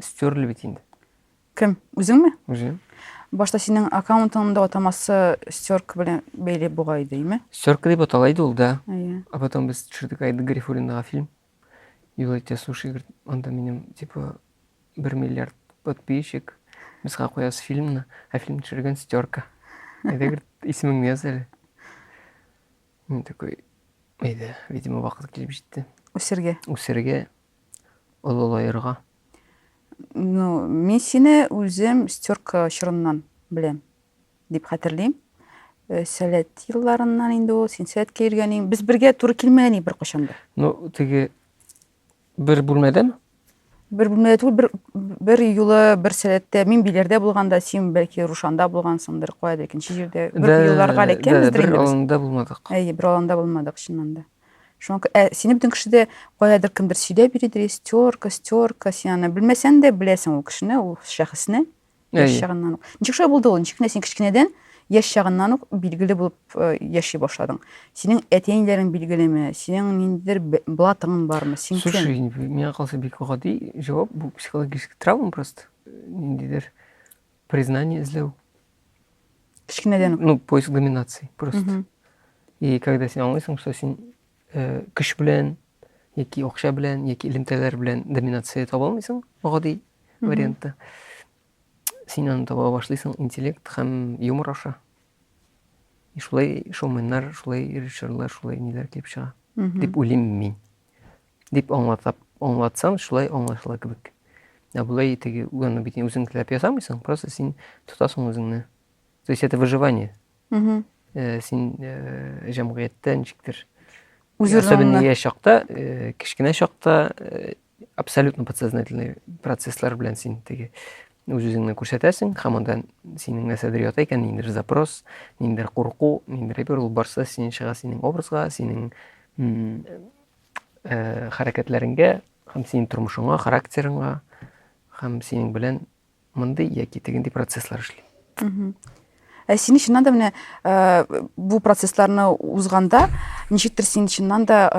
Стерли бит инде. Кем? Үзеңме? Үзем. Башта синең аккаунтыңның да атамасы стерка белән бәйле бугай идеме? Стерка дип атала иде ул да. Әйе. А потом без төшердек Айды Гарифуллинага фильм. Юл итә суши, анда минем типа бер миллиард подписчик. Без куябыз фильмны, ә фильм төшергән стерка. Әйдә, исемеңне яз әле. Мин такой, әйдә, видимо, вакыт килеп җитте. Үсергә. Үсергә. олылаерга? Ну, мин сине үзем стерка чорыннан беләм, дип хәтерлим. Э, сәләт елларыннан инде ул, син сәләткә йөргәнең. Без бергә туры килмәгән идек беркайчан да. Ну, теге бер бүлмәдәме? Бер бүлмәдә түгел, бер, бер юлы бер сәләттә, мин биләрдә булганда, син бәлки Рушанда булгансыңдыр, кая да икенче җирдә. Бер юлларга эләккәнбездер инде. Бер аланда булмадык. Әйе, бер аланда булмадык, чыннан да. Шуңа күрә ә сине бөтен кеше дә каядыр кемдер сөйләп йөридер, истерка, стерка, син аны белмәсәң дә беләсең ул кешене, ул шәхесне яшь чагыннан ук. Ничек шулай булды ул? Ничек кенә син кечкенәдән яшь чагыннан ук билгеле булып э, яши башладың? Синең әти-әниләрең билгелеме? Синең ниндидер блатың бармы? Син кем? Слушай, миңа калса бик гади җавап, бу психологический травма просто. Ниндидер Признание эзләү. Кечкенәдән үк. Ну, поиск доминации просто. Мгм. И когда син аңлыйсың, что син э, көч белән, яки акча белән, яки элемтәләр белән доминация таба алмыйсың, гади Мгм. вариантта. Син аны таба башлыйсың интеллект һәм юмор аша. И шулай шоуменнар, шулай режиссерлар, шулай ниләр килеп чыга. Мгм. Дип уйлыйм мин. Дип аңлатап, аңлатсам, шулай аңлашыла кебек. Ә болай теге уганны бит үзең теләп ясамыйсың, просто син тотасың үзеңне. То есть это выживание. Угу. Э, син э, җәмгыятьтә ничектер Особенно я чакта, э, кечкенә чакта э, абсолютно подсознательный процесслар белән син теге Үз-үзеңне күрсәтәсең, һәм анда синең нәрсәдер ята икән, ниндидер запрос, ниндидер курку, ниндидер әйбер ул барса синен чыга синең образга, синең э, хәрәкәтләреңгә һәм синең тормышыңа, характерыңа һәм синең белән мондый яки тегенди процесслар эшли. Ә сине чыннан да менә бу процессларны узганда, ничектер син чыннан да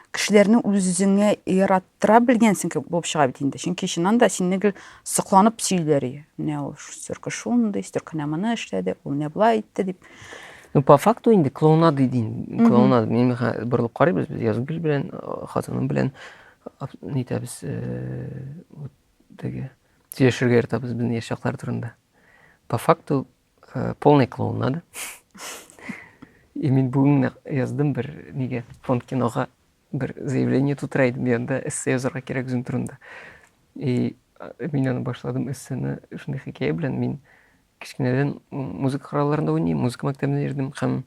кешеләрне үзеңә яраттыра белгәнсең кебек булып чыга бит инде. Чөнки чыннан да синне гел сокланып сөйлиләр. Менә ул сөрке шундый, сөрке менә моны эшләде, ул менә болай итте дип. Ну, по факту инде клоунада дин. Клоунада. Мин борылып карыйбыз, без Язгөл белән, хатыным белән нитәбез, Теге сөйләшергә яратабыз безнең яшь чаклар турында. По факту э, полный клоун надо. И мин бүгін яздым бір неге фонд киноға бір заявление тутыра едім янда эссе язарга кирәк үзем турында и мин аны башладым эссены шундый хикәя белән мин кечкенәдән музыка коралларында уйныйм музыка мәктәбенә йөрдем һәм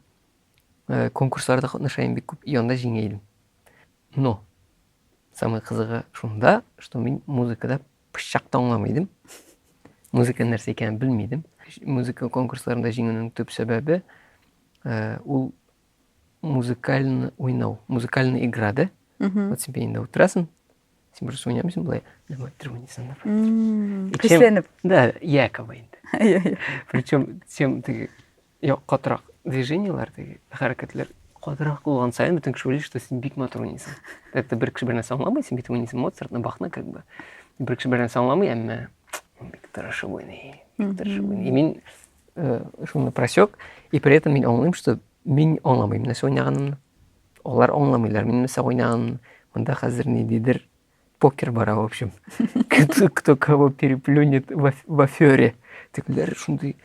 э, конкурсларда катнаша идем бик күп и анда җиңә идем но Самый кызыгы шунда, что мин музыкада пычак та аңламый идем. Музыка нәрсә икәнен белми идем. Музыка конкурсларында җиңүнең төп сәбәбе э, ул музыкальный уйнау, музыкальная игра, да? Вот себе инде утырасың, сен просто уйнамайсың былай, давай, тормынисың. Күсенеп. Да, якобы инде. Причем, чем ты Юк, катырак движениеләр теге, хәрәкәтләр катырак булган саен бөтен кеше уйлый, что син бик матур уйныйсың. Это бер кеше бер нәрсә аңламый, син бит уйныйсың Моцартны, Бахны как бы. Бер кеше бер нәрсә аңламый, әмма бик тырышып уйный, бик тырышып уйный. И мин э, шуны просек, и при этом мин аңлыйм, что мин аңламыйм нәрсә уйнаганымны. Алар аңламыйлар мин нәрсә уйнаганымны. Монда хәзер ниндидер Покер бара, в общем. Кто, кто кого переплюнет в, аф- в афере. Тегеләр шундый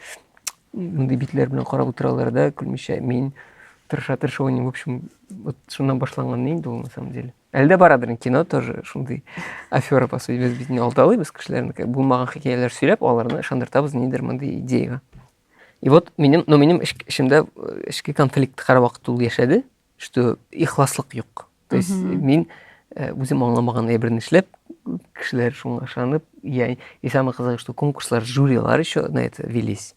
мондый битләр белән карап утыралар да, көлмичә. Мин тырыша тырыша уйныйм. В общем, вот шуннан башланган инде ул на самом деле. Әле дә барадыр инде кино тоже шундый афера по сути. Без бит не алдалыйбыз кешеләрне, как булмаган хикәяләр сөйләп, аларны ышандыртабыз нидер мондый идеяга. И вот минем, но минем эч- эчемдә э, эчке конфликт һәрвакыт ул яшәде. что ихласлык юк то есть мин э, үзем аңламаган әйберне эшләп кешеләр шуңа ышанып я и самое қызығы что конкурслар жюрилар еще на это велись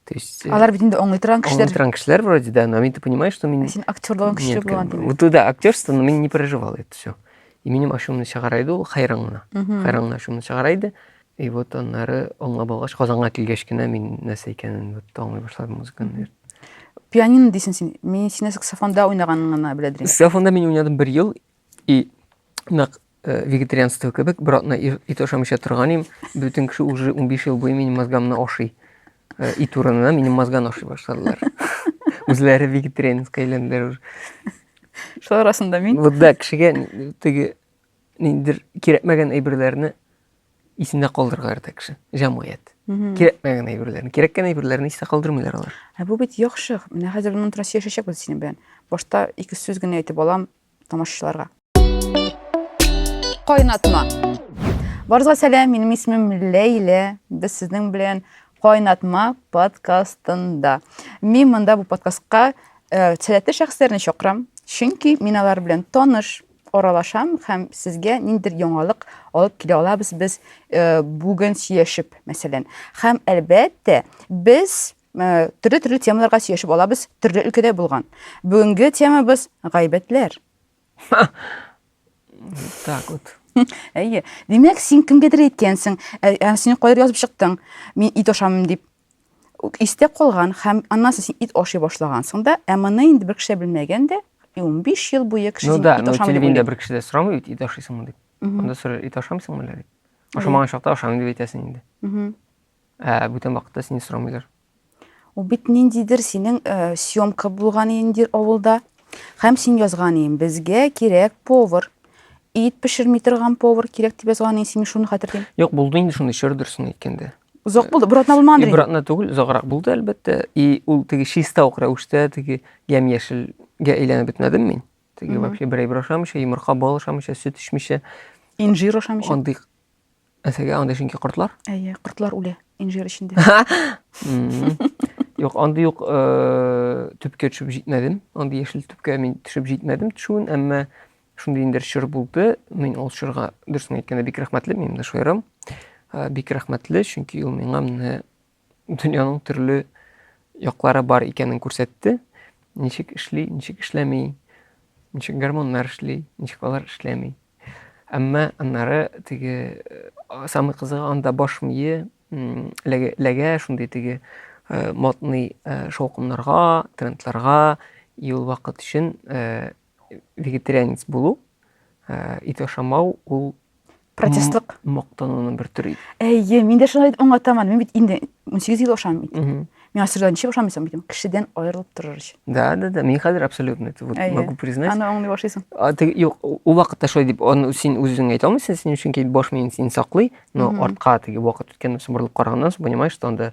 то есть э, алар бит инде аңлый торган кешеләр аңлый торган кешеләр вроде да но ты понимаешь что мин син актерлыгың көчле булган димәк вот да актерство но мин не переживал это все и минем ашуымны чыгара иде ул хайран гына хайран гына ашуымны чыгара иде И вот аннары аңлап алгач, Казанга килгәч кенә мин нәрсә икәнен вот аңлый башладым музыканы. Пианино дисең син. Мин сине саксофонда уйнаганын гына белә идем. Саксофонда мин уйнадым бер ел и нәкъ э, вегетарианство кебек бер атна ир- ит ашамыйча торган идем. Бөтен кеше уже 15 ел буе минем мозгамны ашый. Э, Ит урынына минем мозганы ашый башладылар. Үзләре вегетарианецка әйләнделәр уже. Шулар арасында мин. Вот да, кешегә н- теге Ниндер кирәкмәгән әйберләрне исендә калдырырга ярата кеше, җәмгыять. Кирәкмәгән әйберләрне, кирәккән әйберләрне истә калдырмыйлар алар. Ә бу бит яхшы. Менә хәзер моннан тора сөйләшәчәкбез синең белән. Башта ике сүз генә әйтеп алам тамашачыларга. Кайнатма. Барыгызга сәлам, минем исемем Ләйлә. Без сезнең белән Кайнатма подкастында. Мин монда бу подкастка э, сәләтле шәхесләрне чакырам, чөнки мин алар белән таныш, аралашам һәм сезгә ниндидер яңалык алып килә алабыз без э, бүген сөйләшеп, мәсәлән. Һәм әлбәттә, без э, төрле-төрле темаларга сөйләшеп алабыз, төрле өлкәдә булган. Бүгенге темабыз гайбәтләр. Так вот. Әйе. Димәк, син кемгәдер әйткәнсең, ә, ә син кайда язып чыктың? Мин ит ашамыйм дип. истә калган һәм аннан соң син ит ашый башлагансың да, ә моны инде бер кеше белмәгән дә, 15 ел буе кеше ну, да, ит ашамый дип уйлый. бер кеше дә сорамый бит, ит ашыйсыңмы дип. Анда сорар, ит ашамыйсыңмы әллә дип. Ашамаган чакта ашамыйм дип әйтәсең инде. Ә бүтән вакытта сине сорамыйлар. Ул бит ниндидер синең э, съемка булган инде авылда. Һәм син язган идең, безгә кирәк повар. Ит пешерми торган повар кирәк дип язган идең, син шуны хәтерлим. Юк, булды инде шундый чор дөресен әйткәндә. Озак булды, бер атна булмагандыр. Бер атна түгел, озаграк булды, әлбәттә. И ул теге чиста ук рәвештә теге ямь-яшелгә әйләнеп бетмәдем мин. Теге вообще бер әйбер ашамыйча, йомырка, бал ашамыйча, сөт эчмичә. Инжир ашамыйча. Андый әсәгә андый чөнки кортлар. Әйе, кортлар үлә инжир эчендә. Юк, андый юк э, төпкә төшеп җитмәдем. Андый яшел төпкә мин төшеп җитмәдем төшүен, әмма Шундый инде чор булды. Мин ул чорга дөресен әйткәндә бик рәхмәтле, минем дә шаярым. Э, бик рәхмәтле, чөнки ул миңа менә дөньяның төрле яклары бар икәнен күрсәтте. Ничек эшли, ничек эшләми, ничек гормоннар эшли, ничек алар эшләми. Әмма аннары теге э, самый кызыгы анда баш мие ләгә шундый теге э, модный э, шаукымнарга, трендларга ел вакыт өчен Вегетарианец булу, ә, ит ашамау ул протестлык мактануның бер төре. Әйе, мин дә шуны аңлатамын. Мин бит инде 18 ел ашамыйм бит. Мин асырдан ничек ашамыйсың бит? Кешедән аерылып торыр өчен. Да, да, да. Мин хәзер абсолютно это вот могу признать. Аны аңлый башлыйсың. А ты юк, у вакытта шулай дип, аны син үзең әйтә алмыйсың, син өчен кит баш мин син саклый, но артка теге вакыт үткәннән соң борылып караганнан соң понимаешь, что анда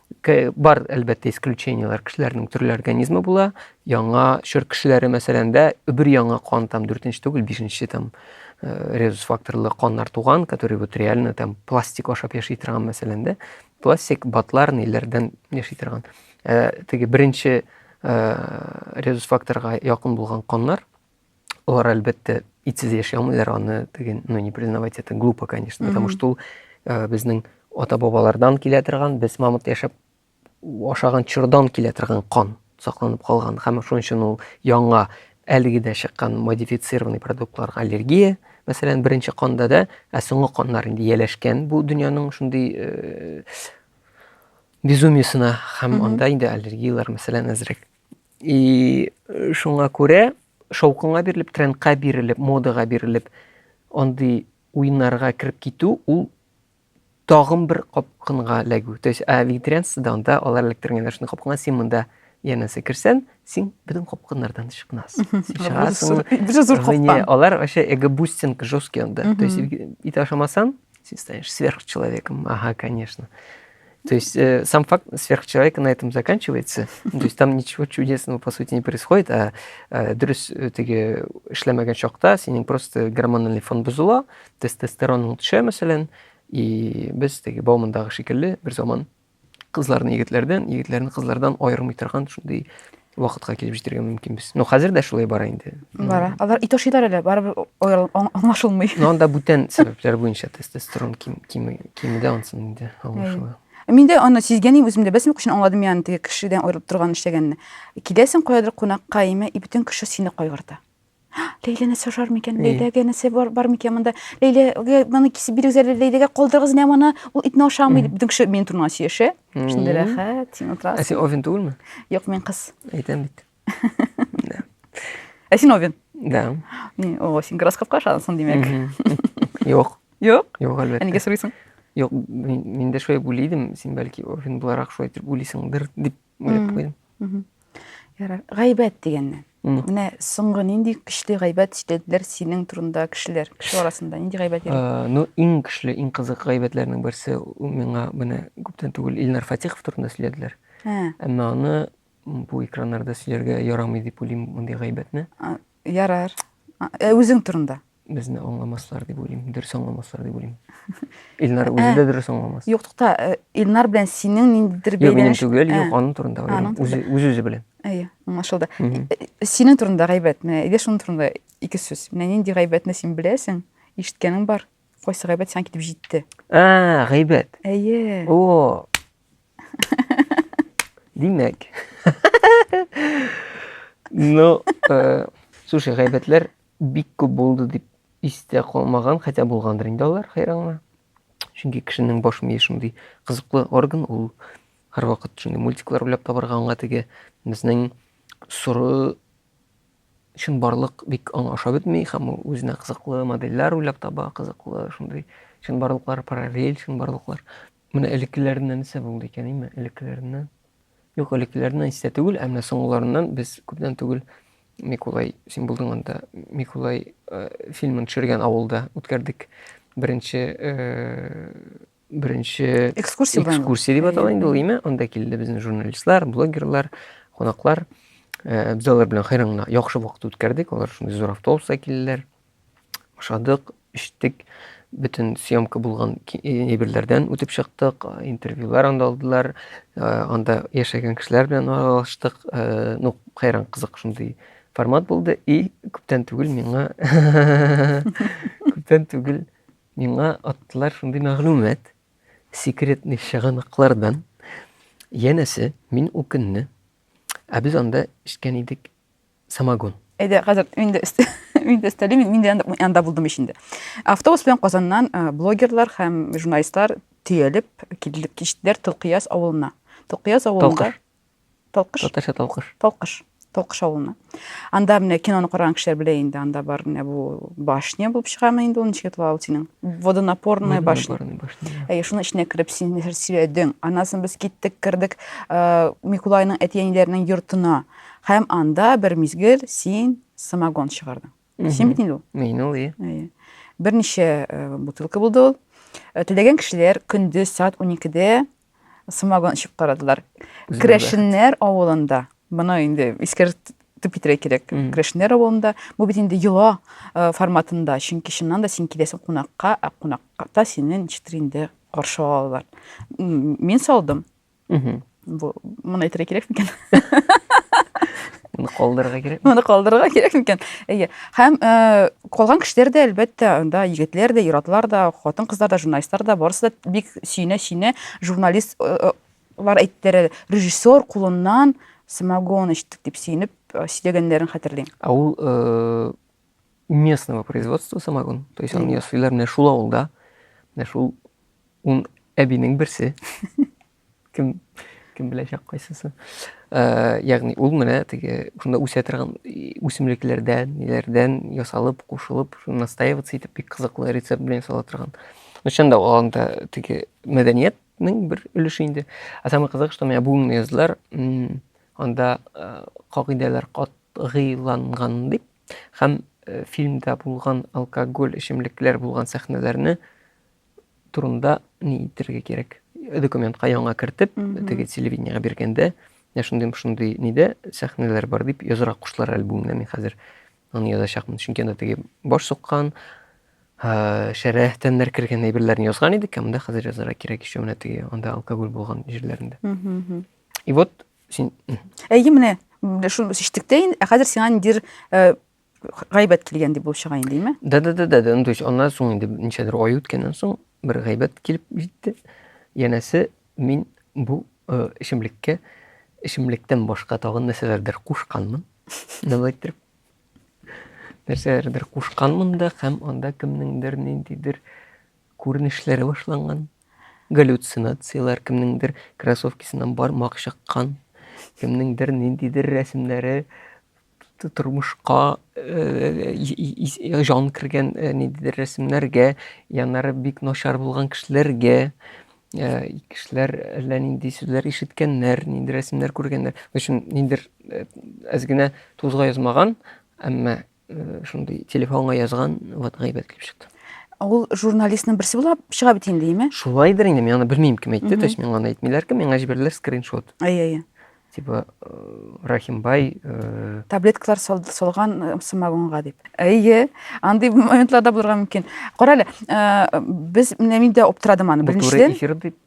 Бар, әлбәттә, исключениеләр, кешеләрнең төрле организмы була. Яңа чор кешеләре, мәсәлән, дә бер яңа кан, там, дүртенче түгел, бишенче, там, э, резус факторлы каннар туган, который вот реально, там, пластик ашап яши торган, мәсәлән, дә. Пластик, батлар, ниләрдән яши торган. Э, теге беренче э, резус факторга якын булган каннар, Алар әлбәттә итсез яши алмыйлар, аны теге, ну не признавать это глупо, конечно, потому что ул э, безнең ата-бабалардан килә торган, без мамыт яшәп ашаган чордан килә торган кан сакланып калган һәм шуның өчен ул яңа әлеге дә чыккан модифицированный продуктларга аллергия, мәсәлән, беренче канда да, ә соңгы каннар инде ияләшкән бу дөньяның шундый э, безумиясенә һәм анда инде аллергияләр мәсәлән әзрәк И шуңа күрә шаукынга бирелеп, трендка бирелеп, модага бирелеп, андый уеннарга кереп китү ул тагын бер капкынга эләгү. То есть, ә вегетарианствода анда алар эләктергәннәр шундый капкынга, син монда янәсе керсән, син безнең капкыннардан чыкмасын. Син чыгасың. Бөтен зур капкан. Алар вообще эгобустинг жесткий анда. То есть, ит ашамасаң, син станешь сверхчеловеком. Ага, конечно. То есть э, сам факт сверхчеловека на этом заканчивается. То есть там ничего чудесного, по сути, не происходит, а э, дөрес э, теге эшләмәгән чакта синең просто гормональный фон бозыла, тестостерон төшә, мәсәлән, и без теге Баумандагы шикелле бер заман кызларны егетләрдән, егетләрне кызлардан аермый торган шундый вакытка килеп җитәргә мөмкинбез. Ну, хәзер дә шулай бара инде. Бара. Алар и ташыйлар әле, барыбер оял- аң- аңлашылмый. Ну, анда бүтән сәбәпләр буенча тестостерон ким, кими, кимеде ансын инде аңлашыла. Мин дә аны сизгәнем үземдә, бәс мөк өчен аңладым яны теге кешедән аерылып торган эшләгәнне. Киләсең каядыр кунакка име, и бөтен кеше сине кайгырта. Ләйләне сожар микән? Ләйләгә нәрсә бар, бар микән монда? Ләйләгә моны кисеп бирегез әле, Ләйләгә калдырыгыз менә моны, ул итне ашамый дип, дүңше минем турына сөйләшә. Шундый рәхәт, син утырасың. Ә син овен түгелме? Юк, мин кыз. Әйтәм бит. Ә син овен? Да. Ни, о, син гороскопка ышанасың, димәк. Юк. Юк? Юк, әлбәттә. Нигә сорыйсың? Юк, мин дә шулай уйлыйдым, син бәлки овен буларак шулай дип уйлыйсыңдыр дип уйлап куйдым. Ярар. Гайбәт дигәннән. Менә соңгы нинди көчле гайбәт ишетәләр синең турында кешеләр, кеше арасында нинди гайбәт йөри? Ну, иң көчле, иң кызык гайбәтләрнең берсе миңа менә күптән түгел Илнар Фатихов турында сөйләделәр. Әмма аны бу экраннарда сөйләргә ярамый дип уйлыйм мондый гайбәтне. Ярар. Ә үзең турында? Безне аңламаслар дип уйлыйм, дөрес аңламаслар дип уйлыйм. Илнар үзе дә дөрес аңламас. Юк, тукта, э, Илнар белән синең ниндидер бәйләнеш. Юк, минем түгел, юк, аның турында уйлыйм. Үзе үзе үзе белән. Әйе, аңлашылды. Э, синең турында гайбәт, менә әйдә шуның турында ике сүз. Менә нинди гайбәтне син беләсең, ишеткәнең бар. Кайсы гайбәт сиңа китеп җитте? А, гайбәт. Әйе. О. Димәк. Ну, э, слушай, гайбәтләр Бик күп булды дип истә калмаган, хотя булгандыр инде алар, хәйранга. Чөнки кешенең баш мие шундый кызыклы орган, ул һәрвакыт шундый мультиклар уйлап табарга аңа теге безнең соры чын барлык бик аңа ашап бетми һәм ул үзенә кызыклы модельләр уйлап таба, кызыклы шундый чын барлыклар, параллель чын барлыклар. Менә элеккеләреннән нәрсә булды икән, име? Элеккеләреннән. Юк, элеккеләреннән истә түгел, ә менә соңгыларыннан без күптән түгел Микулай, син булдың анда, Микулай э, фильмын төшергән авылда үткәрдек. Беренче э, беренче Экскурсия була инде. экскурсия дип атала инде ул, име? Анда килде безнең журналистлар, блогерлар, кунаклар. Э, Без алар белән хәйран гына яхшы вакыт үткәрдек. Алар шундый зур автобуста килделәр. ашадык, эчтек, бөтен съемка булган әйберләрдән үтеп чыктык, интервьюлар анда алдылар, анда яшәгән кешеләр белән аралаштык. Ну, хәйран кызык шундый формат булды. И күптән түгел миңа күптән түгел миңа аттылар шундый мәгълүмат секретный чыганаклардан. Янәсе, мин укынны. Ә без анда эчкән идек Самогон. Әйдә, хәзер мин дә мин дә өстәлим, мин дә янда булдым ич инде. Автобус белән Казаннан э, блогерлар һәм журналистлар төялеп килеп кичтеләр Толкыяз авылына. Толкыяз авылында Толкыш. Татарча Толкыш. Толкыш. Толкыш авылына. Анда менә киноны караган кешеләр белә инде, анда бар менә бу башня булып чыгамы инде ул ничек атала ул синең? Водонапорная башня. Әйе, шуның эченә кереп син нәрсә сөйләдең? Аннан соң без киттек, кердек э, Микулайның әти-әниләренең йортына. Һәм анда бер мизгел син самогон чыгардың. Син бит инде ул. Мин ул, и. Берничә бутылка булды ул. Теләгән кешеләр көндез саат 12-дә самогон эчеп карадылар. Крәшеннәр авылында, моны инде искәрт тып китерә кирәк крәшнәр авылында бу бит инде йола э, форматында чөнки чыннан да син киләсең кунакка ә кунакта сине ничектер инде каршы алалар мин салдым Мхм. Бу моны әйтергә кирәк микән? Моны калдырырга кирәк. Моны калдырырга кирәк микән? Әйе. Һәм э, калган кешеләр дә, әлбәттә, анда егетләр дә, ир-атлар да, хатын-кызлар да, журналистлар да, барысы да бик сөенә-сөенә журналист э, э, лар әйттеләр, режиссер кулыннан самогон эчтек дип сөенеп э, сөйләгәннәрен хәтерлим. Ә ул э, местного производства самогон. То есть аны ясыйлар менә шул авылда. Менә шул ун әбинең берсе. Кем кем беләчәк кайсысы. Э, ягъни ул менә теге шунда үсә торган үсемлекләрдән, ниләрдән ясалып, кушылып, шуны настаиваться итеп бик кызыклы рецепт белән ясала торган. Ну, чын да ул анда теге мәдәниятнең бер өлеше инде. Ә самый кызык, что менә бүгенге язлар анда э, кагыйдәләр катгыйланган дип Һәм фильмда булган алкоголь, эчемлекләр булган сәхнәләрне турында ни итергә кирәк? Документка яңа кертеп, теге телевидениега биргәндә, я шундый шундый нидә сәхнәләр бар дип язырга куштылар әле бүгенгә мин хәзер аны язачакмын. Чөнки анда теге баш суккан, шәрә тәннәр кергән әйберләрне язган идек, ә монда хәзер язарга кирәк ишеменә теге анда алкоголь булган җирләрендә. И вот Син... Әйе, менә, шуны шиштек тә инде, ә хәзер сиңа ниндидер э, гайбәт килгән дип булып чыга инде, әйме? Да, да, да, да, да. Ну, то есть, аннан соң инде ничәдер ай үткәннән соң бер гайбәт килеп җитте. Янәсе, мин бу э, эчемлеккә эчемлектән башка тагын нәрсәләрдер кушканмын. Нәбәй иттереп. Нәрсәләрдер кушканмын да һәм анда кемнеңдер ниндидер күренешләре башланган. Галлюцинацияләр, кемнеңдер кроссовкисыннан бармак чыккан, кемнеңдер ниндидер рәсемнәре тормышка җан кергән ниндидер рәсемнәргә, яннары бик начар булган кешеләргә, кешеләр әллә нинди сүзләр ишеткәннәр, нинди рәсемнәр күргәннәр. Өчен ниндидер әз генә тузга язмаган, әмма Шундый телефонга язган, вот гайбәт килеп чыкты. Ул журналистның берсе булып чыга бит инде, яме? Шулайдыр инде, мин аны белмим кем әйтте, то есть миңа аны әйтмиләр кем, миңа җибәрделәр скриншот. Әй-әй. Типа э, Рахимбай э, таблеткалар салган э, самогонга дип. Әйе, андый моментларда булырга мөмкин. Карале, без менә мин дә оптырадым аны беренчедән. Бу туры эфир дип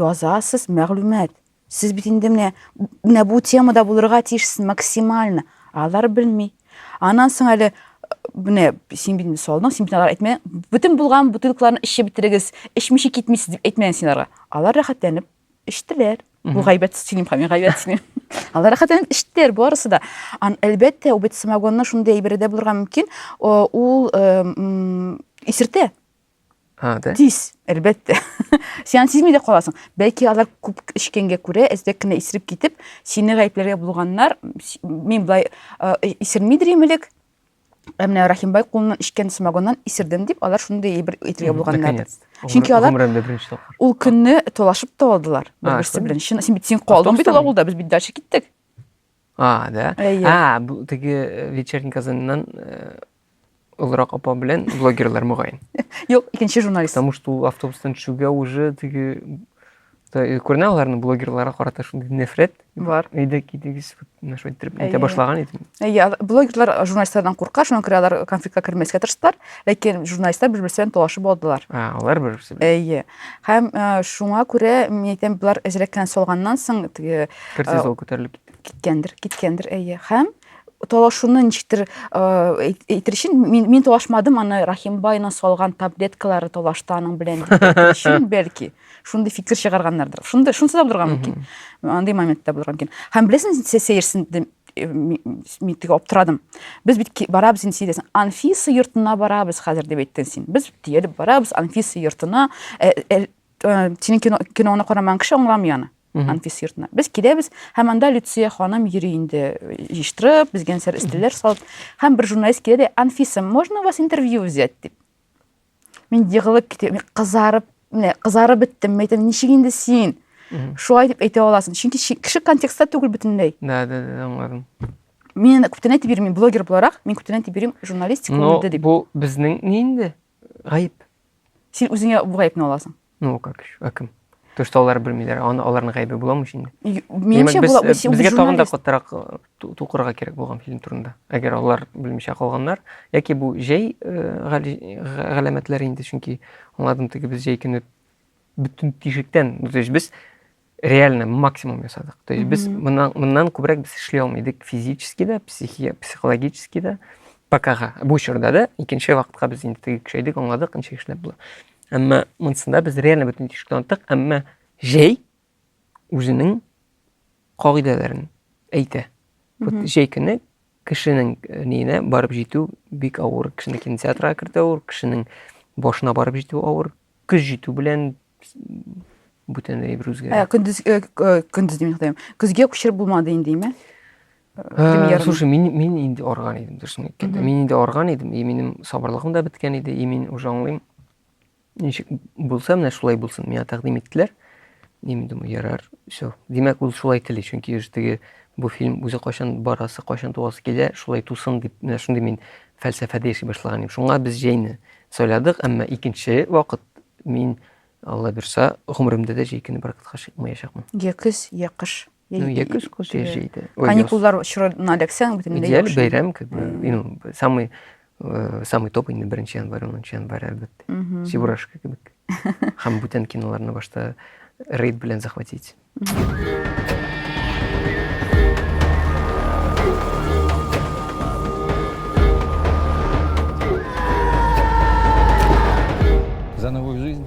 Язасыз, мәгълүмат. Сез бит инде менә менә бу темада булырга тиешсез максимально. Алар белми. Аннан соң әле менә син бит салдың, син бит алар әйтмә. Бүтән булган бутылкаларны эчеп бетерегез, эчмичә китмисез дип әйтмәгән син аларга. Алар рәхәтләнеп эчтеләр. Бу гайбәт сөйлим, хәми гайбәт сөйлим. Алар рәхәтләнеп эчтеләр барысы да. Ан әлбәттә, ул бит самогонны шундый әйбердә булырга мөмкин, ул исертә. А, да? Тиз, әлбәттә. Сиан сизми дә каласың. Бәлки алар күп эчкәнгә күрә, әздәк кенә исереп китеп, сине гаепләргә булганнар. Мин былай исерми дирем элек. Ә менә Рахимбай кулыннан эчкән самогоннан исердем дип, алар шундый бер әйтергә булганнар. Чөнки алар ул көнне талашып та алдылар бер-берсе белән. Син бит син калдың бит ул авылда, без бит дальше киттек. А, да? Әйе. А, бу теге э, вечерний Казаннан э, олырак апа белән блогерлар мөгаен. Юк, икенче журналист. Потому что ул автобустан төшүгә уже теге та- э, күренә аларның блогерларга карата шундый нәфрәт. Бар. Әйдә китегез, вот менә шулай иттереп әйтә Әйе. башлаган идем. Әйе, ал- блогерлар журналистлардан курка, шуңа күрә алар конфликтка кермәскә тырыштылар. Ләкин журналистлар бер-берсен талашып алдылар. Ә, алар бер-берсен. Әйе. Һәм э, шуңа күрә мин әйтәм, болар әзрәк кенә салганнан соң теге Кортизол күтәрелеп китте. киткәндер, киткәндер, әйе. Һәм талашуны ничектер э, әйт- әйтер өчен мин, мин талашмадым, аны Рахимбайның салган таблеткалары талашты аның белән дип әйтер өчен бәлки шундый фикер чыгарганнардыр. Шундый шунысы да булырга мөмкин. Андый момент та булырга мөмкин. Һәм беләсең, сә- сәерсендем. мин теге аптырадым без бит барабыз инде син анфиса йортына барабыз хәзер дип әйттең син без диелеп барабыз анфиса йортына синең кино киноны карамаган кеше аңламый аны анфиса йортына без киләбез һәм анда люция ханым йөри инде җыештырып безгә нәрсәләр өстәлләр салып һәм бер журналист килә дә анфиса можно у вас интервью взять дип мин егылып китәм мин кызарып менә кызарып беттем мен әйтәм ничек инде син шулай дип әйтә аласың чөнки кеше контекстта түгел бөтенләй да да да аңладым мин күптән әйтеп йөрмим блогер буларак мин күптән әйтеп йөрим журналистика үлде дип бу безнең ни инде гаеп син үзеңә бу гаепне аласың Ну, как еще, а кем? То, что алар белмиләр, аны аларның гайбе буламы инде? Менимчә, була, без безгә тагын да каттарак э, тукырга кирәк булган фильм турында. Әгәр алар белмичә калганнар, яки бу җәй э, галәмәтләре инде, чөнки аңладым теге без җәй көне бөтен тишектән, без реально максимум ясадык то есть без мыннан мыннан күбрәк без эшли алмый идек физически да психи психологически да покага бу чорда да икенче вакытка без инде теге көчәйдек аңладык ничек эшләп була әмма монысында без реально бөтен тишекне аттык әмма җәй үзенең кагыйдәләрен әйтә вот җәй көне кешенең э, ниенә барып җитү бик авыр кешене кинотеатрга кертү авыр кешенең башына барып җитү авыр көз җитү белән Бүтәнләй бер үзгә. Ә, көндез, э, э, көндез дим, хәтәм. Көзгә күчер булмады инде, име? Ә, слушай, мин, мин инде арган идем, дөресен әйткәндә. Мин инде арган идем, и минем сабырлыгым да беткән иде, и мин уже аңлыйм. Ничек булса, менә шулай булсын. Миңа тәкъдим иттеләр. И мин думаю, ярар, все. Димәк, ул шулай тели, чөнки уже теге бу фильм үзе кайчан барасы, кайчан туасы килә, шулай тусын дип, менә шундый мин фәлсәфәдә яши башлаган идем. Шуңа без җәйне сайладык, әмма икенче вакыт Мин, Алла бирса, гомеремдә дә җәй көне баракатка чыкмаячакмын. Йә көз, йә кыш. Ну, йә көз, көз, йә җәйдә. Каникуллар чорына эләксәң, бөтенләй яхшы. Идеаль бәйрәм, как бы, ну, самый э, самый топ инде беренче январь, унынчы январь, әлбәттә. Чебурашка кебек. Һәм бүтән киноларны башта рейд белән захватить. За новую жизнь.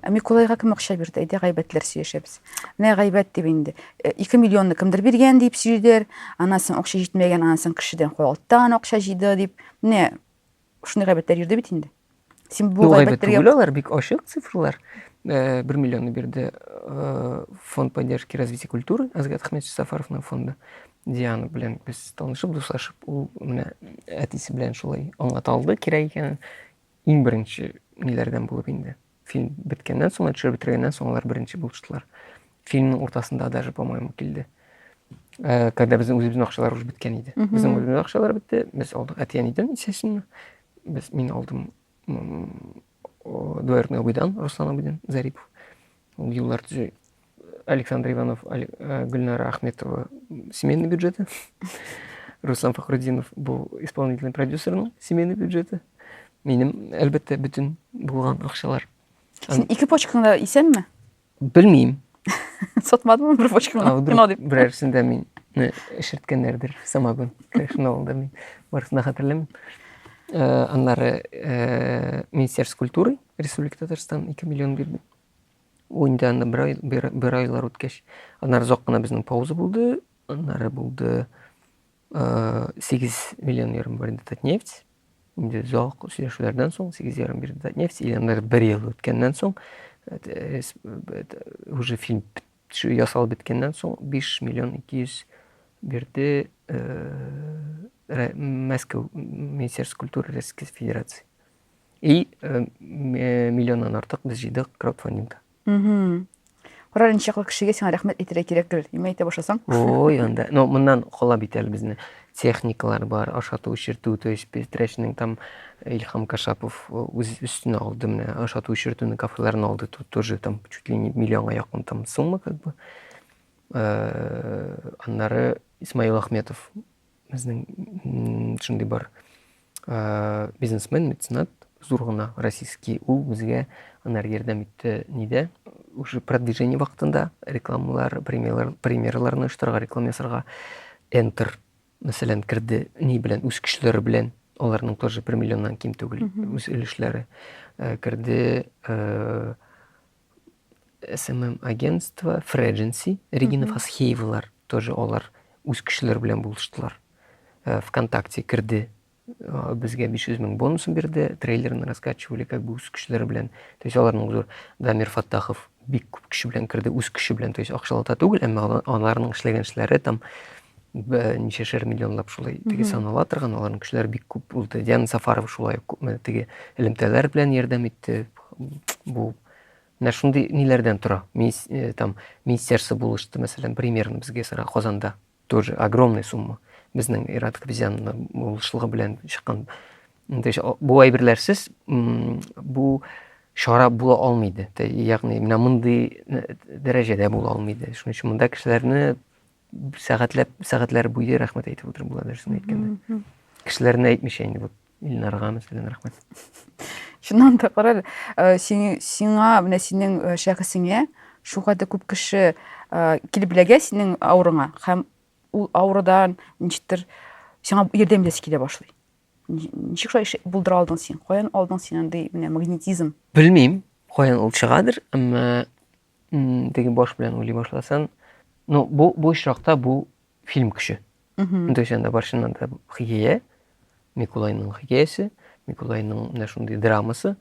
Ә Миколайга кем акча бирде? Әйдә гайбәтләр сөйләшәбез. Менә гайбәт дип инде. 2 миллионны кемдер биргән дип сөйлиләр. Анасын акча җитмәгән, анасын кешедән куалттан акча җыйды дип. Менә Шуны гайбәтләр йөрде бит инде. Син бу гайбәтләргә... Гайбәт алар бик ачык цифрлар. Э, бер миллионны бирде э, фонд поддержки развития культуры Азгат Ахмедович Сафаровның фонды. Диана белән без танышып, дуслашып, ул менә әтисе белән шулай аңлата алды кирәк икәнен. Иң беренче ниләрдән булып инде. Фильм беткәннән соң, төшереп бетергәннән соң алар беренче булыштылар. Фильмның уртасында даже, по-моему, килде. Э, когда безнең үзебезнең акчалар уже беткән иде. Безнең үзебезнең акчалар бетте, без алдык әти-әнидән, естественно. Без мин алдым двоюродный абыйдан, Руслан абыйдан Зарипов. Ул юллар төзү Александр Иванов, э, Гульнара Ахметова семейные бюджеты. Руслан Фахрудинов был исполнительный продюсер ну, семейные бюджеты. Минем, әлбәттә, бөтен булган акчалар. Син ике почкаңда исәнме? Белмим. Сатмадымы бер почкаңда? Вдруг берәрсендә мин эшерткәннәрдер самогон. Конечно, ул да мин барысына хәтерләмим. Э, аннары э, Министерство культуры Республика Татарстан 2 миллион бирде. Ул инде анда бер ай, бер, бер айлар үткәч, аннары озак кына безнең пауза булды, аннары булды ә, 8 миллион ярым бирде Татнефть. Инде озак сөйләшүләрдән соң 8 ярым бирде Татнефть, и аннары бер ел үткәннән соң э, уже фильм төшү ясалып беткәннән соң 5 миллион 200 бирде э, Мәскәү Министерство культуры Российской Федерации. И э, э, миллионнан артык без җыйдык краудфандингта. Мгм. Карар инде чаклы кешегә сиңа рәхмәт әйтергә кирәк гел. Нимә әйтә башласаң? Ой, анда. Но моннан кала бит әле безне техникалар бар, ашату, эшертү, то есть без трәшнең там Илхам Кашапов э, үз өстенә алды менә ашату, эшертүне кафеларны алды. Тут тоже там чуть ли не миллионга якын там сумма как бы. Э, Аннары Исмаил Ахметов Безнең шундый бар бизнесмен, меценат, зур гына российский, ул безгә анар ярдәм итте нидә, уже продвижение вакытында рекламалар, премьерлар, премьерларны оештырырга, реклама ясарга Enter мәсәлән керде, ни белән, үз көчләре белән, аларның тоже 1 миллионнан ким түгел үз өлешләре керде. СММ-агентство, Фредженси, Регина Фасхеевалар тоже алар үз кешеләре белән булыштылар. Э, ВКонтакте керде, э, безгә 500 мең бонусын бирде, трейлерны раскачивали как бы үз кешеләре белән. То есть аларның зур Дамир Фаттахов бик күп кеше белән керде, үз кеше белән, то есть акчалата түгел, әмма аларның эшләгән эшләре там ничәшәр миллионлап шулай теге санала торган аларның кешеләре бик күп булды. Диана Сафарова шулай күпме теге элемтәләр белән ярдәм итте. Бу Менә шундый ниләрдән тора. Мисс, э, там, министерство булышты, мәсәлән, примерно безгә сара Казанда. Тоже огромная сумма. Безнең Ират Хабизянны булышлыгы белән чыккан. Инде бу әйберләрсез бу чара була алмый иде. Ягъни менә мондый э, дәрәҗәдә була алмый иде. Шуның өчен монда кешеләрне сәгатьләп сәгатьләр буе рәхмәт әйтеп утырып була дөресен әйткәндә кешеләрне әйтмичә инде вот илнарга мәсәлән рәхмәт чыннан да кара әле э, сиңа менә синең э, шәхесеңә шулкадәр күп кеше э, килеп эләгә синең авырыңа һәм ул авырудан ничектер сиңа ярдәм итәсе килә башлый ничек шулай булдыра алдың син каян алдың син андый менә магнетизм белмим каян ул чыгадыр әмма Теге баш белән уйлый башласын. Ну, бу, бу очракта бу фильм көче. То есть анда баршыннан да хикәя, Микулайның хикәясе, Микулайның менә шундый драмасы,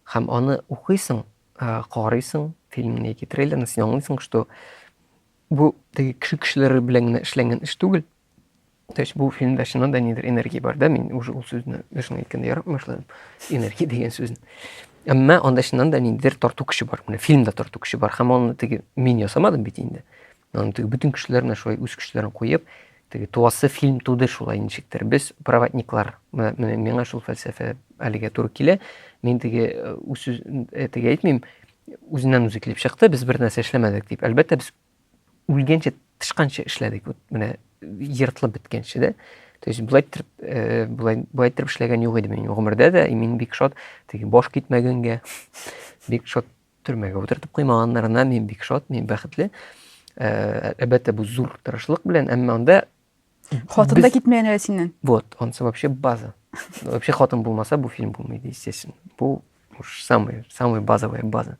һәм аны укыйсың, карыйсың, фильмны яки трейлерны, син аңлыйсың, что бу теге кеше кешеләре белән генә эшләнгән эш түгел, То есть бу фильмда чыннан да нидер энергия бар да, мин уже ул сүзне берсен әйткәндә ярап башладым. Энергия дигән сүзне. Әмма анда чыннан да ниндидер тарту көче бар. Менә фильмда тарту көче бар. Һәм аны теге мин ясамадым бит инде. Аны теге бөтен кешеләр менә шулай үз көчләрен куеп, теге туасы фильм туды шулай ничектер. Без проводниклар. Менә миңа шул фәлсәфә әлегә туры килә. Мин теге э, үз э, теге әйтмим, үзеннән үзе килеп чыкты, без бер нәрсә эшләмәдек дип. Әлбәттә, без үлгәнче тычканча эшләдек вот менә ертылып беткәнче дә то есть былай иттереп э, былай былай иттереп эшләгән юк иде минем гомердә дә и мин бик шат теге баш китмәгәнгә бик шат төрмәгә утыртып куймаганнарына мин бик шат мин бәхетле э, әлбәттә бу зур тырышлык белән әмма анда Хатын да китмәгән әле синнән. Вот, ансы вообще база. Вообще хатын булмаса, бу фильм булмайды, естественно. Бу уж самый, самый базовая база.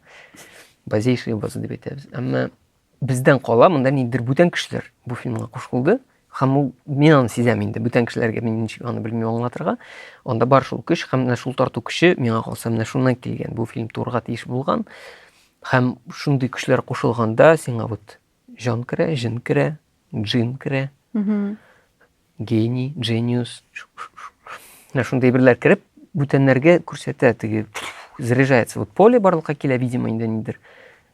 Базейшая база дип әйтәбез. Әмма бездән кала монда ниндидер бүтән кешеләр бу фильмга кушылды. Һәм ул мин аны сизәм инде. Бүтән кешеләргә мин ничек аны белмим аңлатырга. Анда бар шул көч һәм менә шул тарту көче миңа калса менә шуннан килгән. Бу фильм турга тиеш булган. Һәм шундый көчләр кушылганда сиңа вот Җан керә, җен керә, джин керә. Гений, джениус. Менә шундый әйберләр кереп, бүтәннәргә күрсәтә, теге заряжается. Вот поле барлыкка килә, видимо, инде нидер.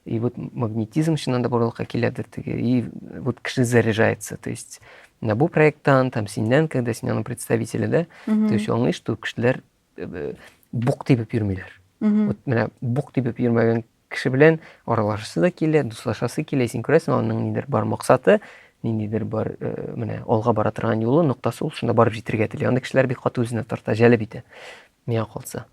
И вот магнетизм чыннан да барлыкка киләдер теге. И вот кеше заряжается. То есть на бу проекттан, там синнән, когда син аның представителе, да? То есть аңлый, что кешеләр э, бук тибеп йөрмиләр. Вот менә бук тибеп йөрмәгән Кеше белән аралашасы да килә, дуслашасы килә, син күрәсең, аның нидер бар максаты, ниндидер бар, э, менә алга бара торган юлы, ноктасы ул, шунда барып җитергә тели. Андый кешеләр бик каты үзенә тарта, җәлеп итә. Миңа калса.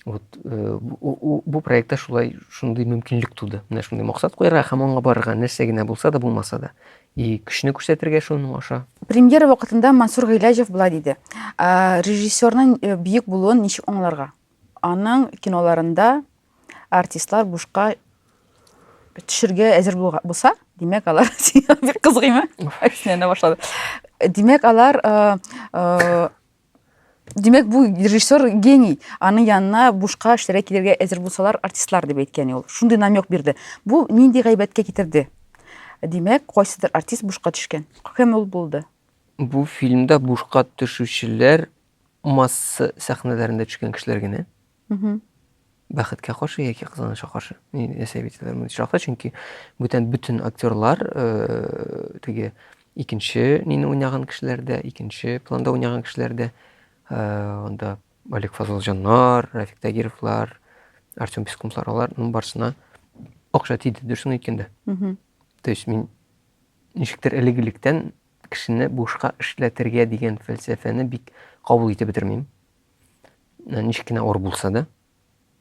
Вот, э, бу, бу проектта шулай шундый мөмкинлек туды. Менә шундый максат куярга һәм аңа барырга, нәрсә генә булса да, булмаса да. И көчне күрсәтергә шуның аша. Премьера вакытында Мансур Гыйләҗев болай диде. Режиссерның э, бөек булуын ничек аңларга? Аның киноларында артистлар бушка төшергә әзер булса, димәк, алар бер кызгыймы? Әксенә башлады. Димәк, алар Димәк, бу режиссер гений. Аның янына бушка эшләргә килергә әзер булсалар, артистлар дип әйткән ул. Шундый намек бирде. Бу нинди гайбәткә китерде? Димәк, кайсыдыр артист бушка төшкән. Кем ул булды? Бу фильмда бушка төшүчеләр масса сәхнәләрендә төшкән кешеләр генә бәхеткә каршы яки кызганычка каршы яшәп яталар мондый очракта чөнки бүтән бөтен актерлар э, теге икенче нине уйнаган кешеләр дә икенче планда уйнаган кешеләр дә э, анда олег фазылҗаннар рафик тагировлар артем пескунлар аларның барысына акча тиде дөресен әйткәндә то есть мин ничектер элек электән Кешене бушка эшләтергә дигән фәлсәфәне бик кабул итеп бетермим. Ничек кенә авыр булса да.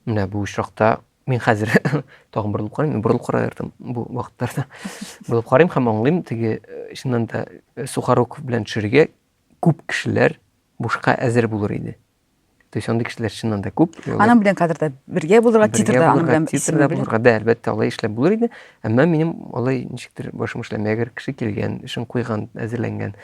Менә бу очракта мин хәзер тагын борылып карыйм, мин борылып карадым бу вакытларда. Борылып карыйм һәм аңлыйм, теге э, чыннан да э, Сухоруков белән төшерергә күп кешеләр бушка әзер булыр иде. То есть андый кешеләр чыннан да күп. Аның белән хәзер дә бергә булырга, титрда аның белән титрда булырга, да, әлбәттә, алай эшләп булыр иде. Әмма минем алай ничектер башым эшләми. Әгәр кеше килгән, эшен куйган, әзерләнгән,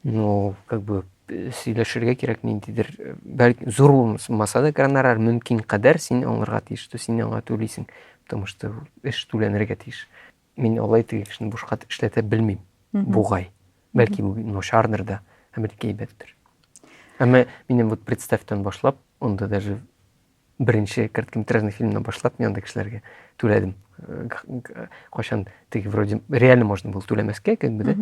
ну, как бы сөйләшергә кирәк ниндидер, бәлки зур булмаса да гонорар мөмкин кадәр син аңларга тиеш, что син аңа түлисең, потому что эш түләнергә тиеш. Мин алай теге кешене бушка эшләтә белмим. Бугай. Бәлки бу начардыр да, ә бәлки әйбәттер. Әмма минем вот представьтан башлап, онда даже беренче короткометражный фильмнан башлап мин анда кешеләргә түләдем. Э, кайчан теге вроде реально можно было түләмәскә, как бы, да?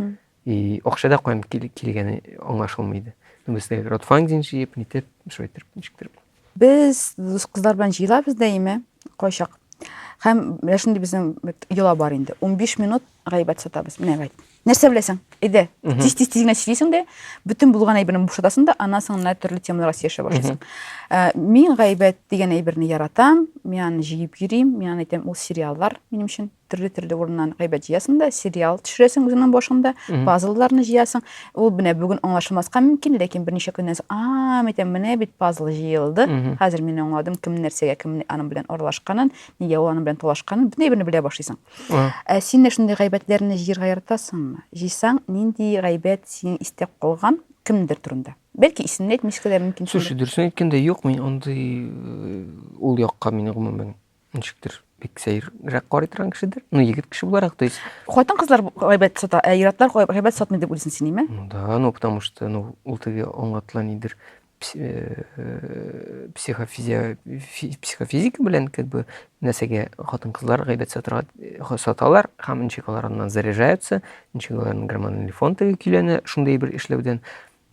И акча да каян килгәне аңлашылмый иде. Ну, без дә краудфандинг җыеп, нитеп, шулай итеп, ничектер. Без дус кызлар белән җыелабыз даими, кайчак. Һәм менә шундый безнең йола бар инде. 15 минут гайбәт сатабыз. Менә гайбәт. Нәрсә беләсең? Әйдә, тиз-тиз тиз генә сөйлисең дә, бөтен булган әйберне бушатасың да, аннан соң менә төрле темаларга сөйләшә башлыйсың. Э, мин гайбәт дигән әйберне яратам, мин аны җыеп йөрим, мин аны әйтәм, ул сериаллар минем өчен. төрле төрле урыннан гайбәт җыясың да сериал төшерәсең үзеңнең башыңда пазлларны җыясың ул менә бүген аңлашылмаска мөмкин ләкин берничә көннән соң а митә менә бит пазл җыелды хәзер мин аңладым кем нәрсәгә кем аның белән аралашканын нигә ул аның белән талашканын бөтен әйберне белә башлыйсың ә син дә шундый гайбәтләрне җыярга яратасыңмы җыйсаң нинди гайбәт синең истә калган кемдер турында Бәлки исемне әйтмәскә дә мөмкин. Слушай, дөресен әйткәндә, юк мин андый э, ул якка мин гомумән Ничектер, бик сәеррәк карый торган кешедер. Ну, егет кеше буларак, то есть... Хатын кызлар гайбәт сата, ә иратлар гайбәт сатмый дип уйлыйсың син, име? Ну да, ну потому что, ну, ул теге аңлатыла нидер э, э, психофизия психофизика белән как бы нәрсәгә хатын кызлар гайбәт сатырга э, саталар һәм ничек алар аннан заряжаются, ничек аларның гормональный фон теге көйләнә шундый бер эшләүдән.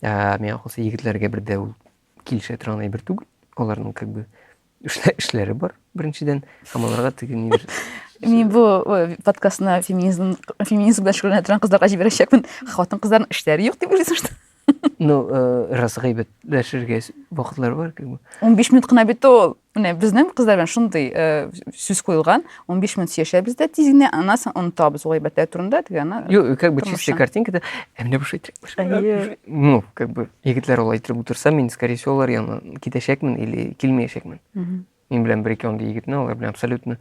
Ә миңа калса егетләргә бер дә ул килешә торган әйбер түгел. Аларның как бы Эшлә, эшләре бар, беренчедән, һәм аларга теге ни Мин бу подкастны феминизм, феминизм белән шөгыльләнә торган кызларга җибәрәчәкмен. Хатын кызларның эшләре юк дип уйлыйсың, что? Ну, э, раз гайбәтләшергә вакытлар бар, как бы. 15 минут кына бит ул. Менә безнең кызлар белән шундый э, сүз куелган. 15 минут яшәбез дә тиз генә аннан соң онытабыз ул әйбәтләр турында теге ана Юк, как бы чистая картинка да. Ә менә буш әйтер. Ну, как бы егетләр ул әйтер утырса, мин скорее всего алар янына китәчәкмен или килмәячәкмен. Мин белән бер ике андый егетне алар белән абсолютно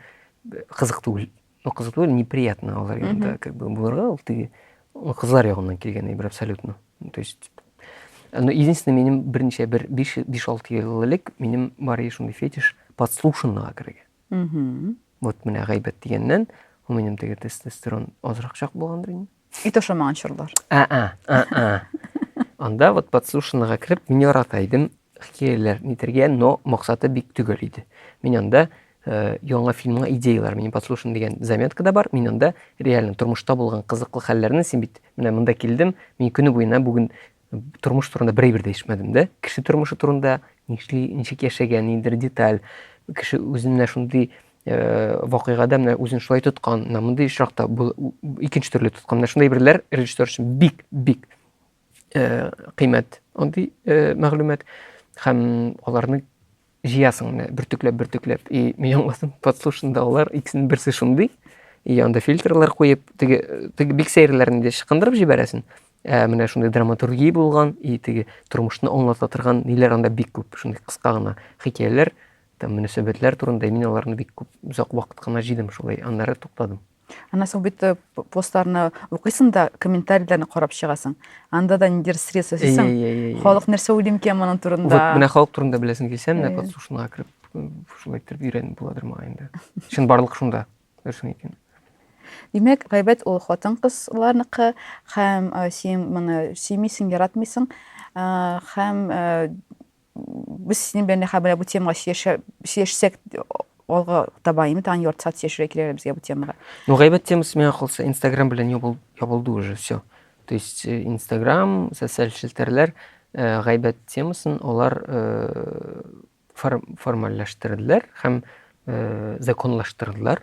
кызык түгел. Ну, кызык түгел, неприятно алар янында как бы булырга ул теге кызлар ягыннан килгән әйбер абсолютно. То есть Но единственное, минем берничә бер 5-6 ел элек минем бар иде шундый фетиш подслушанныйга керергә. Вот менә гайбәт дигәннән, ул минем теге тестостерон азракчак булгандыр инде. Ит ашамаган чорлар. А-а, а-а. Анда вот подслушанныйга кереп, мин ярата идем хикәяләр нитергә, но максаты бик төгәл иде. Мин анда э, яңа фильмга идеялар, мин подслушан дигән заметка да бар, мин анда реально тормышта булган кызыклы хәлләрне, син бит менә монда килдем, мин көне буена бүген тормыш турында бер әйбер дә ишетмәдем дә кеше тормышы турында нишли ничек яшәгән ниндидер деталь кеше үзенә шундый э, вакыйгада менә үзен шулай тоткан менә мондый очракта икенче төрле тоткан менә шундай берләр режиссер өчен бик бик э, кыйммәт андый э, мәгълүмат һәм аларны Җыясың менә бөртекләп бөртекләп и миллионласын подслушандаулар икесенең берсе шундый и анда фильтрлар куеп теге теге бик сәерләрне дә чыкындырып җибәрәсен ә менә шундый драматургия булган и теге тормышны аңлата торган ниләр анда бик күп шундый кыска гына хикәяләр там мөнәсәбәтләр турында мин аларны бик күп озак вакыт кына җыйдым шулай аннары туктадым Ана соң бит э, постларны укыйсың да, комментарийләрне карап чыгасың. Анда да ниндидер сред сәсисең. Халык нәрсә уйлый микән моның турында? Вот менә халык турында беләсең килсә, менә подслушанга кереп, шулай итеп өйрәнеп буладыр моңа инде. Чын барлык шунда. Дөресен әйткән. Димәк, гайбәт ул хатын-кызларныкы һәм э, син моны сөймисең, яратмыйсың э, һәм Без синең белән Нәхә белән бу темага сөйләшсәк, алга таба инде тагын ярты сәгать сөйләшергә киләләр безгә бу темага. Ну, гайбәт темасы миңа калса, Инстаграм белән ябылды уже все. То есть э, Инстаграм, социаль челтәрләр э, гайбәт темасын алар э, формальләштерделәр һәм законлаштырдылар.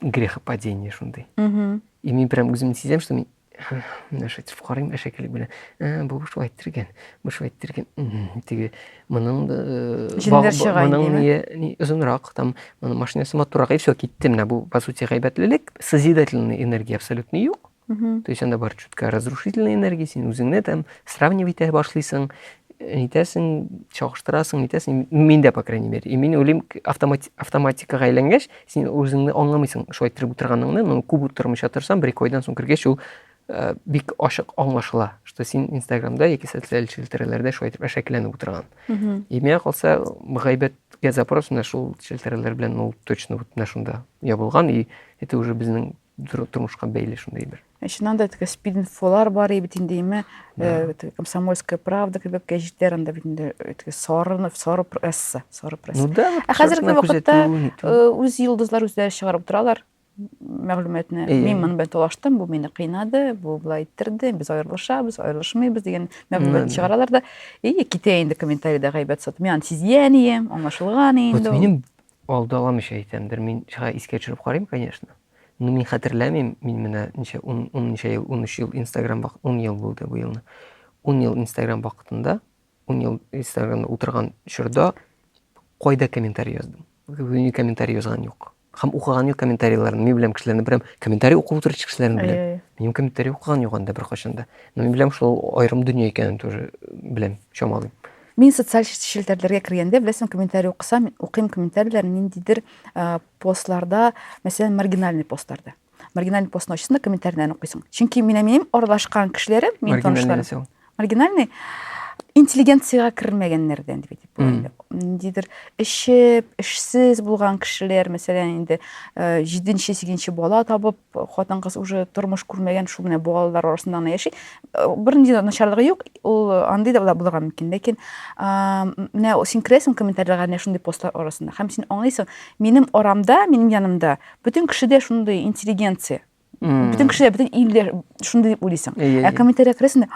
грехопадение шундый и мин прям үземне сизәм что мин менә шайтып карыйм әшәкелек белән ә бу шулай иттергән бу шулай иттергән теге моның җеннәр чыга моның не озынрак там моның машинасы матуррак и все китте менә бу по сути гайбәтлелек созидательный энергия абсолютно юк Угу. То есть анда бар чутка разрушительная энергия, син үзеңне там сравнивать итә башлыйсың, нитәсең, чагыштырасың, нитәсең, мин дә, по крайней мере. И мин уйлыйм, автомати автоматикага әйләнгәч, син үзеңне аңламыйсың, шулай иттереп утырганыңны, но күп утырмыйча торсаң, бер айдан соң кергәч, ул э, бик ачык аңлашыла, что син Инстаграмда яки социаль челтәрәләрдә шулай итеп әшәкеләнеп утырган. И миңа калса, гайбәткә запрос менә шул челтәрәләр белән ул точно вот менә шунда ябылган, и это уже безнең тормышка бәйле шундый бер ә чыннан да теге спидинфолар бар бит инде име э, комсомольская правда кебек гәҗитләр анда бит инде э, теге сарынов сары пресса сары пресса ну да ә хәзерге вакытта э, үз йолдызлар үзләре чыгарып торалар мәгълүматны мин моны белән талаштым бу мине кыйнады бу былай иттерде без аерылышабыз аерылышмыйбыз дигән мәгълүмат чыгаралар да и китә инде комментарийда гайбәт сатып мин аны сизгән идем аңлашылган инде минем Алдаламыйча әйтәм, бер мин чага искә төшереп карыйм, конечно. Ну мин хәтерләмим, мин менә ничә, ун, ун ничә ел, унөч ел инстаграм вакыт, ун ел булды бу елны. Ун ел инстаграм вакытында, ун ел инстаграмда утырган чорда кайда комментарий яздым? Ни комментарий язган юк. Хәм укыган юк комментарийларны. Мин беләм кешеләрне берәм комментарий укып утырыр кешеләрне беләм. Әй, әй. Мин комментарий укыган юк анда беркайчан да. Но мин беләм шул аерым дөнья икәнен тоже беләм, чамалыйм. Мин социаль челтәрләргә кергәндә, беләсең, комментарий укысам, мин укыйм комментарийлар ниндидер постларда, мәсәлән, маргинальный постларда. Маргинальный постны ачсаң да комментарийләрне укыйсың. Чөнки мин минем аралашкан кешеләрем, мин танышларым. Маргинальный интеллигенцияга кермәгәннәрдән дип әйтеп була инде. Ниндидер эшче, эшсез булган кешеләр, мәсәлән, инде 7-8 бала табып, Хатын-кыз уже тормыш күрмәгән, шул менә балалар арасында гына яши. Бернинди дә начарлыгы юк, ул андый да булырга мөмкин. Ләкин менә син керәсең комментарийларга менә шундый постлар арасында. Һәм син аңлыйсың, минем арамда, минем янымда бөтен кеше дә шундый интеллигенция. Бөтен кеше дә, бөтен ил дә шундый дип уйлыйсың. Ә комментарийларга керәсең дә,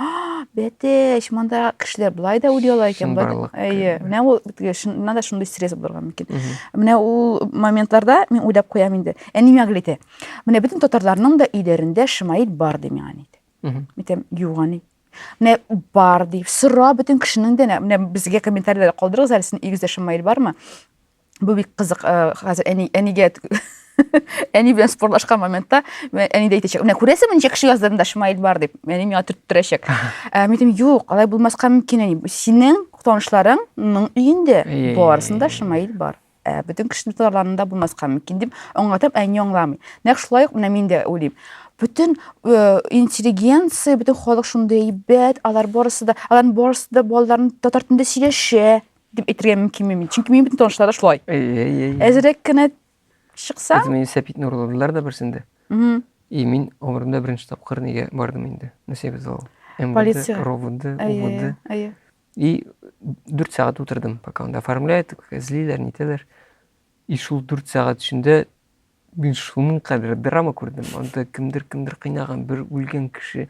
бәтәч, монда кешеләр былай да уйлый ала икән. Әйе, менә ул, чыннан да шундый стресс булырга мөмкин. Менә ул моментларда мин уйлап куям инде. Әни миңа гел әйтә, менә бөтен татарларның да өйләрендә шымаит бар ди миңа әни. Әйтәм, юк әни. Менә бар ди. Сора бөтен кешенең дә, менә безгә комментарийлар калдырыгыз әле сезнең өегездә шымаит бармы? Бу бик кызык, э, хәзер әни әнигә әни белән спорлашкан моментта әни дә әйтәчәк, менә күрәсеңме ничә кеше яздырында шымаит бар дип, әни миңа төрттерәчәк. Ә, мин әйтәм, юк, алай булмаска мөмкин әни. Синең танышларыңның өендә барысында шымаит бар. Ә, бөтен кешене тотарларында булмаска мөмкин дип аңлатам, әни аңламый. Нәкъ шулай ук менә мин дә уйлыйм. Бөтен э, интеллигенция, бөтен халык шундый әйбәт, алар барысы да, аларның барысы да балаларын татар телендә сөйләшә дип әйтергә мөмкин мин. Чөнки мин бөтен танышлар да шулай. Әзрәк кенә чыкса, Әтем мине сәпитне урладылар да берсендә. Мгм. И мин гомеремдә беренче тапкыр нигә бардым инде. Нәсибә зал. МВД, Полиция. РОВД, Әйе, УВД. әйе, әйе. И дүрт сәгать утырдым, пока анда оформляет, эзлиләр, нитәләр. И шул дүрт сәгать эчендә мин шуның кадәр драма күрдем. Анда кемдер кемдер кыйнаган, бер үлгән кеше,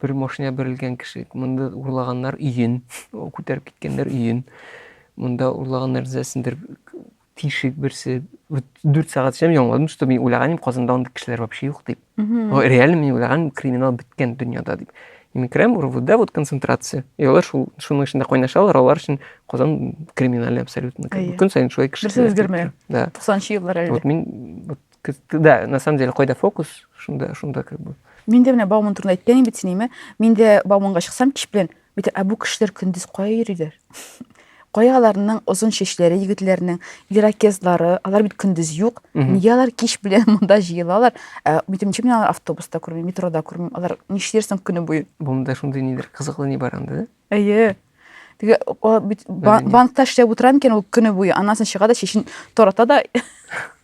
бер машина бәрелгән кеше, монда урлаганнар өен, күтәреп киткәннәр өен. Монда урлаганнар зәсендер Тишек берсе, вот дүрт сәгать эшләп яңладым, что мин уйлаган идем, Казанда андый кешеләр вообще юк дип. Реально мин уйлаган криминал беткән дөньяда дип. И мин керәм, РУВда вот концентрация. И алар шул шуның эчендә кайнашалар, алар өчен Казан криминальный абсолютно. Көн сайын шулай кеше. Берсе үзгәрмәгән. Да. 90 еллар әле. Вот мин вот да, на самом деле кайда фокус, шунда шунда как бы. Мин дә менә Бауман турында әйткән идем бит синеме? Мин дә Бауманга чыксам кич белән Бит ә бу кешеләр көндез кая йөриләр? Кая аларның озын чәчләре егетләрнең, иракезлары, алар бит көндез юк. Нигә алар кич белән монда җыелалар? Ә битем чим алар автобуста күрмим, метрода күрмим. Алар нишләрсең көне буе? Бунда шундый нидер кызыклы ни бар анда. Әйе. Теге банкта эшләп утырам икән ул көне буе. Аннан чыга да чәчен тарата да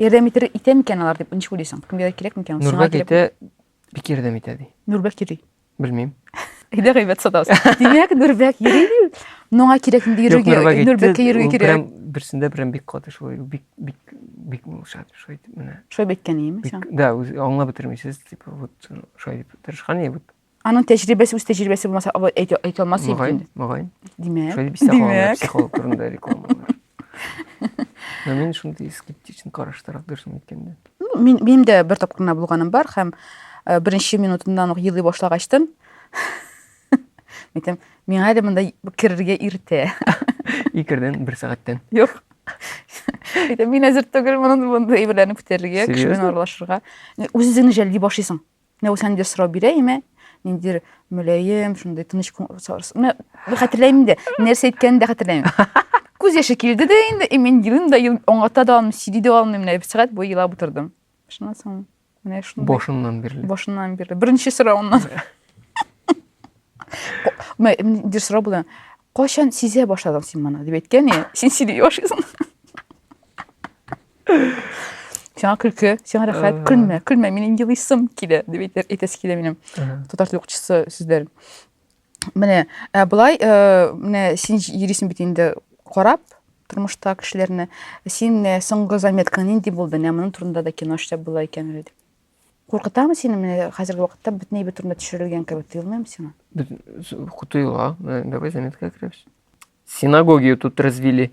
Ярдәм итер итә микән алар дип ничек уйлыйсың? Кемгә кирәк микән? Нурбәк итә, бик ярдәм итә ди. Нурбәк йөри. Белмим. Әйдә гайбәт сатабыз. Димәк, Нурбәк йөри. Моңа кирәк инде йөрергә. Нурбәккә йөрергә кирәк. Берсендә прям бик каты шулай. Бик бик бик шат шулай дип менә. Шулай беткән иеме син? Да, аңлап бетермисез, типа вот шулай дип тырышкан и вот Аның тәҗрибәсе үз тәҗрибәсе булмаса алай әйтә әйтә алмас иде. Мөгаен, мөгаен. Димәк. Шулай бисә халалар психолог турында рекламалар. Но мин шундый скептичен караштырак дөресен әйткәндә. Ну, мин минем дә бер тапкыр гына булганым бар һәм э, беренче минутыннан ук елый башлагачтын. Әйтәм, миңа әле монда керергә иртә. Икердән, бер сәгатьтән. Юк. Әйтәм, мин әзер түгел моны монда әйберләрне күтәрергә, кеше белән аралашырга. Үз-үзеңне жәлли башлыйсың. Менә ул сәндә сорау бирә име? Ниндидер мөлаем, шундый тыныч сорас. Менә хәтерләмим дә, нәрсә әйткәнен дә хәтерләмим. Күз яше килде дә инде, и мин елым да ел аңлата да алмыйм, сөйли дә алмыйм, менә бер сәгать буе елап утырдым. Шуннан соң менә шундый. Башыннан бирле. Башыннан бирле. Беренче соравыннан. Менә дир сорау булды. Кайчан сизә башладың син моны? дип әйткән, и, син сизеп яшисең. Сиңа көлке, сиңа рәхәт, көлмә, көлмә, минем елыйсым килә, дип әйтәсе килә минем. Татар теле укытучысы сүзләрен. Менә, ә былай, э, менә син йөрисең бит инде карап, тормышта кешеләрне син соңгы заметкаң нинди булды менә моның турында да кино эшләп була икән әле Куркытамы сине менә хәзерге вакытта бөтенләй бер турында төшерелгән кебек тоелмыймы сиңа? Без тоела. Давай заметка керәбез. Синагогию тут развели.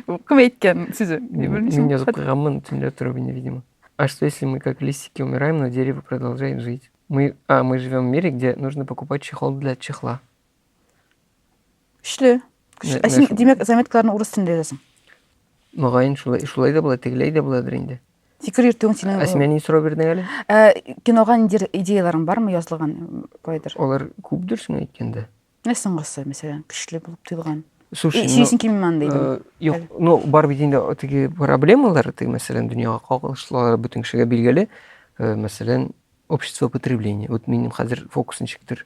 Кем әйткән сүзе? Мин язып куйганмын төнлә торып инде, видимо. А что если мы как листики умираем, но дерево продолжает жить? Мы, а, мы живем в мире, где нужно покупать чехол для чехла. Күчле. Күчле. Ә син, димәк, заметкаларны урыс телендә язасың? Мөгаен, шулай, шулай да була, тегеләй дә буладыр инде. Фикер йөртүең синең. Ә син ни сорау бирдең әле? Ә, кинога нидер идеяларың бармы язылган кайдыр? Алар күпдер соң әйткәндә. Менә соңгысы, мәсәлән, көчле булып тоелган. Слушай, ну, син кимман дидең. Э, юк, ну, бар бит инде теге проблемалар, теге мәсәлән, дөньяга кагылышлы, бөтен кешегә билгеле. Э, мәсәлән, общество потребления. Вот минем хәзер фокусны чиктер.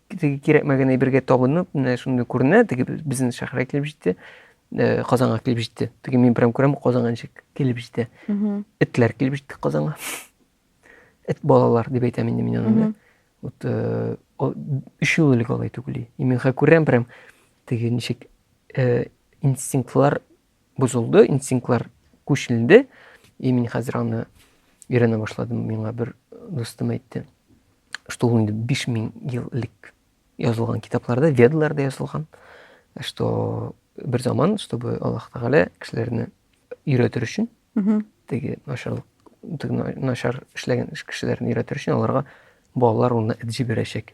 теге кирәкмәгән әйбергә табынып менә шундый күренә теге безнең шәһәргә килеп җитте э, казанга килеп җитте теге мин прям күрәм казанга ничек килеп җитә этләр килеп җитте казанга эт балалар дип әйтәм инде мин аны вот э, өчәү элек алай түгел и мин күрәм прям теге ничек э, инстинктлар бозылды, инстинктлар күчелде. И мин хәзер аны өйрәнә башладым. Миңа бер дустым әйтте, что ул инде 5000 ел элек язылган китапларда, ведларда язылган, что бер заман, чтобы Аллаһ Тәгалә кешеләрне өйрәтер өчен, теге начарлык, теге начар эшләгән кешеләрне өйрәтер өчен аларга балалар урынына эт җибәрәчәк.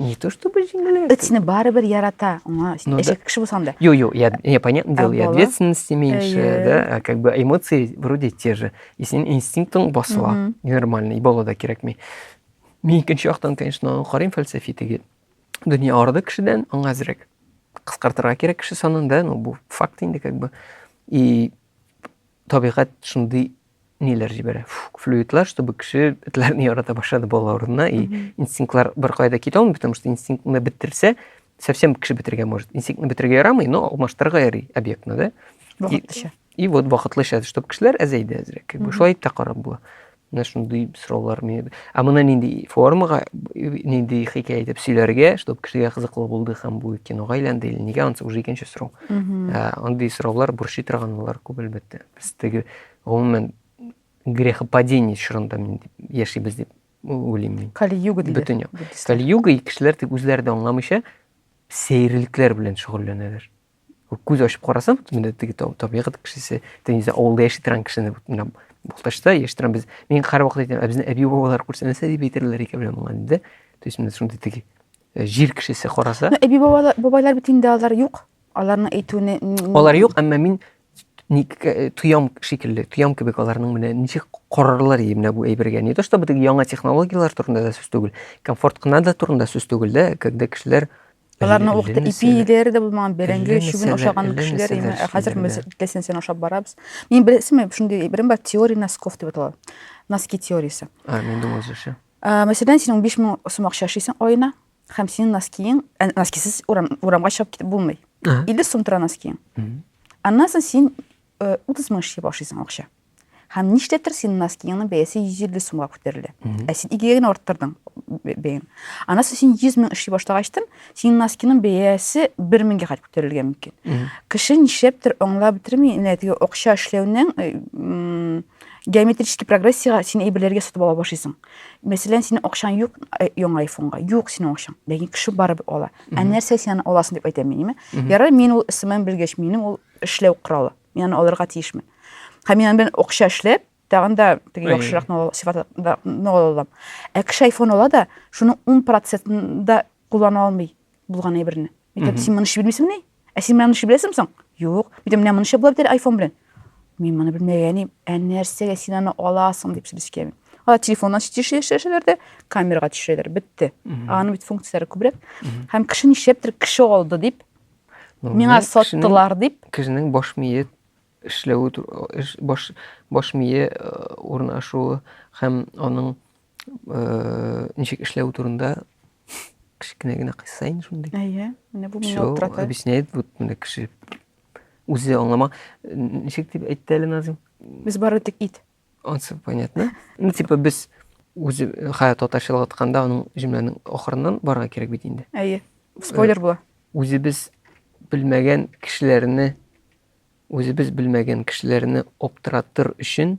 Не то чтобы җиңелрәк. Эцне барыбер ярата. Аңа ну, әшәк да. кеше булсаң да. Йо, йо, я, я понятно дело, и ответственности меньше, yeah. да, а как бы эмоции вроде те же. И синең инстинктың басыла, mm -hmm. нормально, и бала да кирәкми. Мин икенче яктан, конечно, карыйм фәлсәфи теге. Дөнья арыды кешедән, аңа әзрәк. Кыскартырга кирәк кеше санын, да, ну бу факт инде как бы. И табигать шундый ниләр җибәрә флюидлар чтобы кеше этләрне ярата башлады бала урынына и инстинктлар беркая да китә алмый потому что инстинктны бетерсә совсем кеше бетергә может инстинктны бетергә ярамый но алмаштырырга ярый объектны да вакытлыча и вот вакытлыча чтобы кешеләр әзәйде әзрәк как бы шулай итеп тә карап була менә шундый сораулар а моны нинди формага нинди хикәя итеп сөйләргә чтобы кешегә кызыклы булды һәм бу кинога әйләнде или нигә анысы уже икенче сорау андый сораулар борчый торган булар күп әлбәттә Без теге гомумән грехопадение чорында мин яшибез дип уйлыйм мин. Кали-юга диләр. Бөтен юк. Кали-юга кешеләр тик үзләре дә аңламыйча сәерлекләр белән шөгыльләнәләр. Күз ачып карасаң, менә теге табигать кешесе, тенизә авылда яши торган кешене менә Балтачта яши торган без, мин һәр вакыт әйтәм, ә безне әби бабалар күрсәнәсә дип әйтерләр икән менә моңа диде. То есть менә шундый теге э, җир кешесе караса. Әби бабалар бит инде алар юк. Аларның әйтүне Алар юк, әмма мин ник э, тоям шикелле тоям кебек аларның менә ничек корырлар ие менә бу әйбергә не то чтобы теге яңа технологияләр турында да сүз түгел комфорт кына да турында сүз түгел дә когда кешеләр Аларны вакыты ипи идәре дә булмаган, бәрәңге чүбен ашаган кешеләр име. Ә хәзер без телсенсен ашап барабыз. Мин беләсезме, шундый берем бар, теория носков дип атала. Носки теориясе. А, мин думал җеше. Мәсәлән, син 15 мең сум акча эшлисең аена, Һәм синең носкиең, ә, носкисыз урам, урамга чыгып китеп булмый. Ага. 50 сум тора носкиең. Аннан соң син э, 30 мең эшли башлыйсың акча. Һәм нишләптер синең носкиеңнең бәясе 150 сумга күтәрелә. Ә син игегә генә арттырдың б- бәян. Аннан соң син 100 мең эшли башлагачтын, синең носкиның бәясе 1 меңгә кадәр күтәрелергә мөмкин. Кеше нишләптер аңлап бетерми, менә теге акча эшләүнең э, м, геометрический прогрессиягә син әйберләргә сатып ала башлыйсың. Мәсәлән, синең акчаң юк э, яңа айфонга. Юк синең акчаң. Ләкин кеше барып ала. Ә нәрсә син аны аласың дип әйтәм мин, әйме? Ярар, мин ул СММ белгәч, минем ул эшләү коралы. Мин аны алырга тиешмен. Һәм мин белән акча эшләп, тагын да теге яхшырак сыйфатында ала алам. Ә кеше айфон ала да, шуның 10 процентында куллана алмый булган әйберне. Әйтәм, син моны эш белмисеңме? Ә син менә ничек беләсең соң? Юк, мин дә менә монча була бит әле айфон белән. Мин моны белмәгәнем, ә нәрсәгә син аны аласың дип сүзгә мин. Алар телефоннан төшерәләр дә, камерага төшерәләр, бетте. Аның бит функцияләре күбрәк. Һәм кеше нишләптер кеше алды дип, миңа саттылар дип. Кешенең баш мие эшләве, баш, баш мие э, урнашуы һәм аның Ничек эшләү турында кечкенә генә кыйсса инде шундый. Әйе, менә бу мине аптырата. Объясняет, вот менә кеше үзе аңлама. Ничек дип әйтте әле Назим? Без бары тик ит. Ансы понятно. Ну, типа без үзе хая татарчалап атканда аның җөмләнең ахырыннан барырга кирәк бит инде. Әйе. Спойлер була. Үзебез белмәгән кешеләрне үзебез белмәгән кешеләрне аптыратыр өчен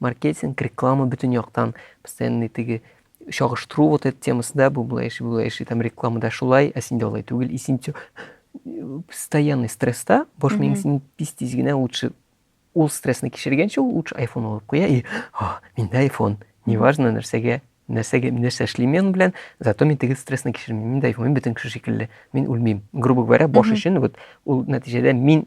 Маркетинг, реклама бөтен яктан постоянный теге чагыштыру вот эта темасы, да, бу булай эши, булай эши, там рекламада шулай, ә синдә алай түгел, и син постоянный стресста, бош миң син тиз тиз генә лучше ул стрессны кичергәнче ул лучше айфон алып куя и а, миндә айфон, неважно нәрсәгә нәрсәгә нәрсә эшлим мен белән зато мин теге стрессны кичермим мин дә айфон мин бөтен кеше шикелле мин үлмим грубо говоря бош өчен вот ул нәтиҗәдә мин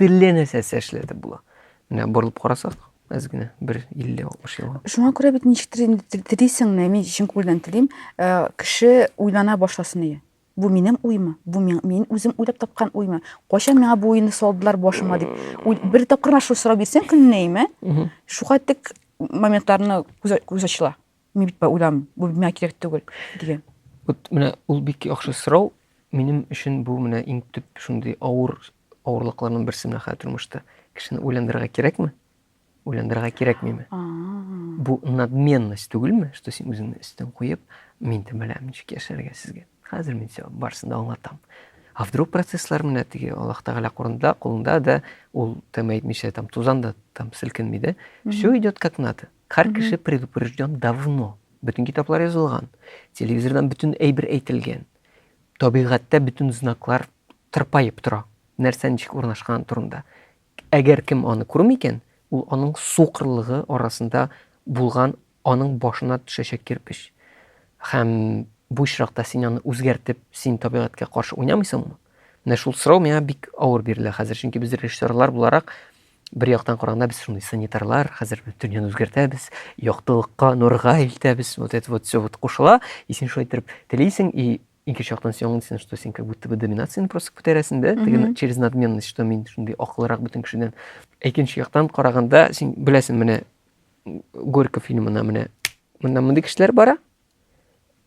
Телле нәрсәсе эшләде була. Менә борылып карасак, әз генә бер 50-60 елга. Шуңа күрә бит ничектер инде телисеңме, мин чын күңелдән телим, э, кеше уйлана башласын ие. Бу минем уймы? Бу мин, мин үзем уйлап тапкан уймы? Кайчан миңа бу уйны салдылар башыма дип. Бер тапкыр шул сорау бирсәң көнләйме? Шуга тек моментларны күз ачыла. Мин бит уйлам, бу миңа кирәк түгел, дигән. Вот менә ул бик яхшы сорау. Минем өчен бу менә иң төп шундый авыр авырлыкларның берсе менә хәзер тормышта. Кешене уйландырырга кирәкме? Уйландырырга кирәкмиме? Бу надменность түгелме, что син үзеңне өстен куеп, мин дә беләм ничек яшәргә сезгә. Хәзер мин сиңа барысын да аңлатам. А вдруг процесслар менә теге Аллаһ Тәгалә кулында, кулында да ул тәм әйтмичә там тузан да там селкенми дә. Все идет как надо. Һәр кеше предупрежден давно. Бөтен китаплар язылган, телевизордан бөтен әйбер әйтелгән. Табигатьтә бөтен знаклар тырпаеп тора, нәрсә ничек урнашканы турында. Әгәр кем аны күрми икән, ул аның сукырлыгы арасында булган аның башына төшәчәк кирпеч. Һәм бу очракта син аны үзгәртеп, син табигатькә каршы уйнамыйсыңмы? Менә шул сорау миңа бик авыр бирелә хәзер, чөнки без режиссерлар буларак Бер яктан караганда без шундый санитарлар, хәзер дөньяны үзгәртәбез, яктылыкка, нурга илтәбез, вот это вот все вот кушыла, и син шулай итеп телисең, и икенче яктан син аңлыйсың, что син как будто бы доминацияны просто күтәрәсең дә, теге через надменность, что мин шундый акыллырак бөтен кешедән. Икенче яктан караганда син беләсең, менә Горько фильмына менә монда мондый кешеләр бара,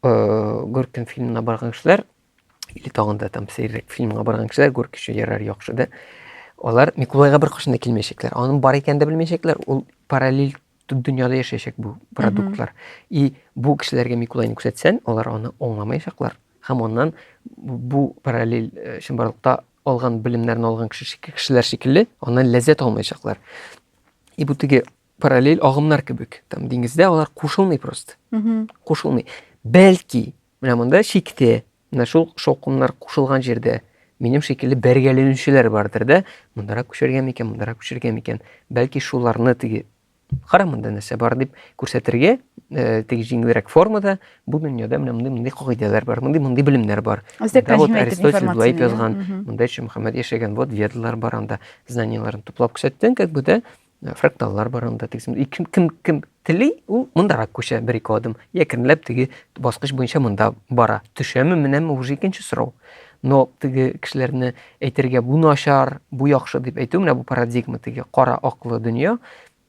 Гөркем фильмына барган кешеләр, или тагын да там сәйрәк фильмга барган кешеләр, Гөрки өчен ярар яхшы да. Алар Микулайга бер кашында килмәячәкләр. Аның бар икәнен дә белмәячәкләр. Ул параллель дөньяда яшәячәк бу продуктлар. И бу кешеләргә Микулайны күрсәтсәң, алар аны аңламаячаклар. Һәм аннан бу параллель э, чынбарлыкта алган белемнәрен алган кеше кешеләр шикелле, аннан ләззәт алмаячаклар. И бу теге параллель агымнар кебек там диңгездә алар кушылмый просто кушылмый бәлки менә монда чиктә менә шул шаукымнар кушылган җирдә минем шикелле бәргәләнүчеләр бардыр да мондарак күчергән микән мондарак күчергән микән бәлки шуларны теге кара монда нәрсә бар дип күрсәтергә э, теге җиңелрәк формада бу дөньяда менә мондый мондый кагыйдәләр бар мондый мондый белемнәр бар монда вот аристотель болай язган монда шимөхәммәд яшәгән вот ведалар бар анда знанияләрен туплап күрсәттең как бы да Ә, фракталлар бар анда тегесен и кем кем кем тели ул мондарак күчә бер ике адым я кемләп теге баскыч буенча монда бара төшәме менәме уже икенче сорау но теге кешеләрне әйтергә бу начар бу яхшы дип әйтү менә бу парадигма теге кара аклы дөнья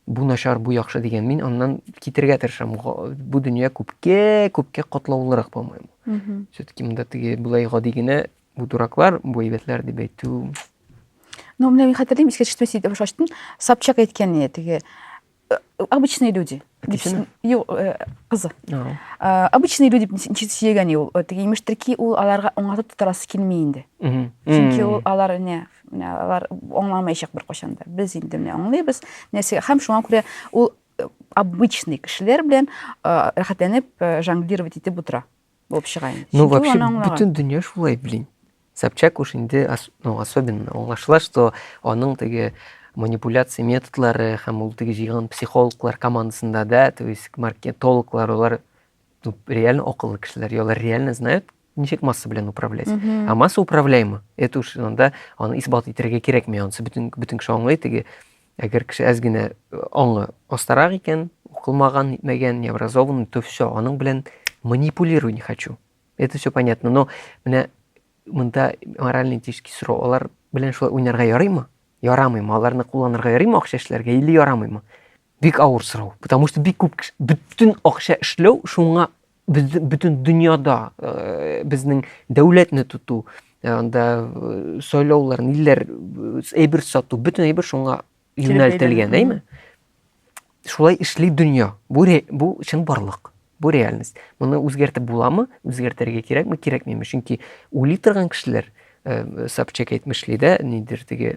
бу начар бу яхшы дигән мин аннан китергә тырышам бу дөнья күпкә күпкә катлаулырак по моему все таки монда теге болай гади генә Бу дураклар, бу әйбәтләр дип әйтү. Ну, менә мин хәтерлим, искә төште сидә баш ачтым. Собчак әйткән иде теге. Э, обычные люди. Әтисеме? Юк, э, кызы. Э, обычные люди ничек сөйгән ул. Теге имештер ки, ул аларга аңлатып тотарасы килми инде. Чөнки ул алар не менә алар аңламаячак бер кашанда. Без инде менә аңлыйбыз. Нәрсә һәм шуңа күрә ул обычный кешеләр белән рәхәтләнеп жонглировать итеп утыра. булып чыга инде. Ну, вообще, бүтін дүния шулай, блин. Собчак уж инде, ну, особенно, аңлашыла, что аның теге манипуляция методлары һәм ул теге җыйган психологлар командасында да, то есть маркетологлар, олар ну, реально акыллы кешеләр, олар реально знают, ничек масса белән управлять. Mm -hmm. А масса управляема. Это уж анда аны исбат итәргә кирәкми, ансы бөтен бөтен кеше аңлый теге Әгәр кеше әз генә аңы астарак икән, укылмаган, нитмәгән, необразованный, то все, аның белән манипулирую не хочу. Это все понятно, но менә монда морально-этический сорау, алар белән шулай уйнарга ярыймы? Ярамыймы? Аларны кулланырга ярыймы акча эшләргә или ярамыймы? Бик авыр сорау, потому что бик күп бөтен акча эшләү шуңа бөтен дөньяда э, безнең дәүләтне тоту э, анда э, сайлаулар ниләр әйбер сату бөтен әйбер шуңа юнәлтелгән әйме шулай эшли дөнья бу бу чын барлык бу реальность моны үзгәртеп буламы үзгәртергә кирәкме кирәкмиме чөнки уйлый торган кешеләр собчак әйтмешли дә нидер теге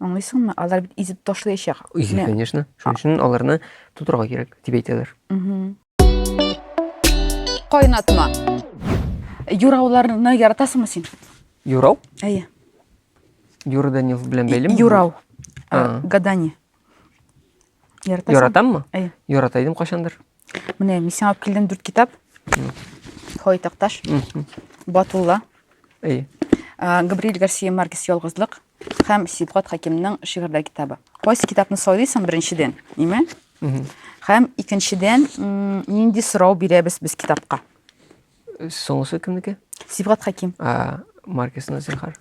Аңлыйсыңмы? Алар бит изеп ташлаячак. Изеп, конечно. Шуның өчен аларны тутырга кирәк, дип әйтәләр. Кайнатма. Юрауларны яратасыңмы син? Юрау? Әйе. Юра Данилов белән бәйлеме? Юрау. Гадание. Яратасың? Яратаммы? Әйе. Ярата идем кайчандыр. Менә мин сиңа алып килдем дүрт китап. Хой Такташ, Батулла, Габриэль Гарсия Маркес Ялгызлык һәм Сибгат Хакимның шигырьдә китабы. Кайсы китапны сайлыйсың беренчедән, име? Һәм икенчедән, нинди сорау бирәбез без китапка? Соңгысы кемнеке? Сибгат Хәким. А, маркасына зинхар.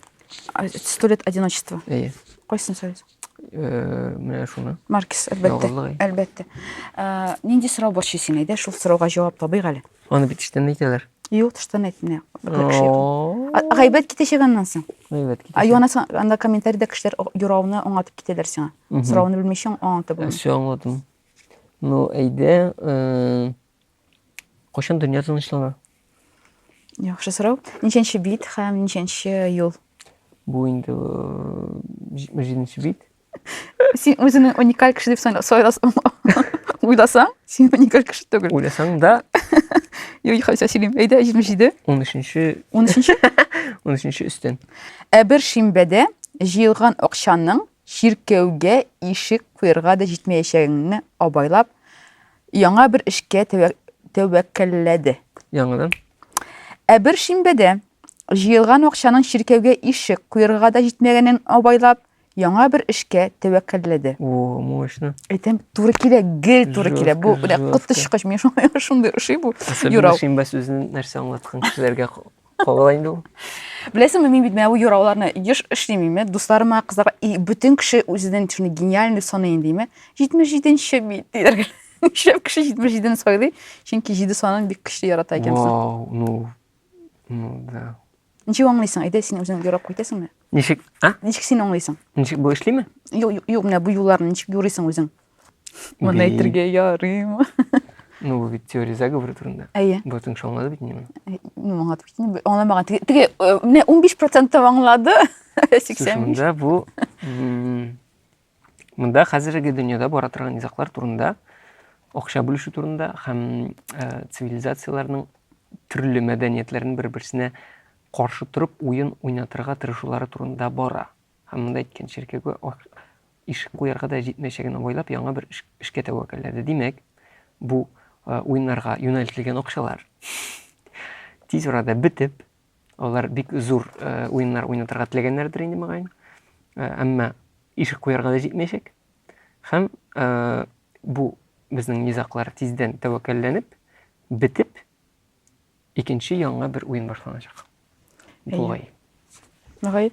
Сто лет одиночества. Әйе. Кайсын сөйләсәң? Э, менә шуны. Маркис, әлбәттә. Әлбәттә. Э, нинди сорау борчый сине? Әйдә, шул сорауга җавап табыйк әле. Аны бит эштән әйтәләр. Юк, тыштан әйтмә. Гайбәт китәчәк аннан соң. Гайбәт китәчәк. Юана анда комментариядә кешеләр юрауны аңлатып китәләр сиңа. Сорауны белмичә аңлатып булмый. Все аңлатым. Ну, әйдә, э, Кайчан дөнья тынычлана? Яхшы сорау. Ничәнче бит һәм ничәнче юл? Бу инде җиденче бит. Син үзеңне уникаль кеше дип сайласаң, уйласаң, син уникаль кеше түгел. Уйласаң да. Юй, хәзер сөйлим. Әйдә, 77. 13-нче. 13-нче? 13-нче өстен. Ә бер шимбәдә җыелган акчаның чиркәүгә ишек куярга да җитмәячәгеңне абайлап, Яңа бер эшкә тәвәккәлләде. Яңадан. Ә бер шимбәдә җыелган акчаның чиркәүгә ишек куерга да җитмәгәнен абайлап, яңа бер эшкә тәвәккәлләде. О, мощно. Әйтәм, туры килә, гел туры килә. Бу коточкыч, миңа шундый ошый бу юрау. Шимбә сүзен нәрсә аңлаткан кешеләргә Калай инде ул. Беләсеңме, мин бит менә бу юрауларны еш эшлим име, дусларыма, кызларга, и бөтен кеше үзенең шуны гениаль дип саный инде име. 77-нче бит диләр. Нишләп кеше 77-ны сайлый? Чөнки 7 санын бик көчле ярата икәнсең. Вау, ну, ну да. Ничек аңлыйсың? Әйдә син үзең юрап кайтасыңмы? Ничек, а? Ничек син аңлыйсың? Ничек бу эшлиме? Юк, юк, юк, менә бу юлларны ничек юрыйсың үзең? Моны әйтергә ярыймы? Ну, бу бит теория заговора турында. Әйе. Бу тыңшы аңлады бит инде. Ну, аңлады бит инде. Аңламаган. Теге, теге, э, менә 15% аңлады. 85. Шунда бу Монда хәзерге дөньяда бара торган низаклар турында, акча бүлешү турында һәм э, цивилизацияләрнең төрле мәдәниятләрен бер-берсенә каршы торып уен уйнатырга тырышулары турында бара. Һәм монда әйткән чиркәүгә Ишек куярга да җитмәячәген абайлап, яңа бер эшкә тәвәккәлләде. Димәк, бу уеннарга юнәлтелгән акчалар тиз арада бетеп, алар бик зур уеннар уйнатырга теләгәннәрдер инде, мөгаен. Әмма ишек куярга да җитмәячәк. Һәм бу безнең низаклар тиздән тәвәккәлләнеп, бетеп, Икенче яңа бер уен башланачак. Әйе. Бугай. Мөгаен.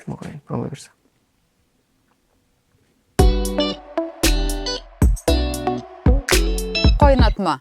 Мөгаен, Алла бирсә. Кайнатма.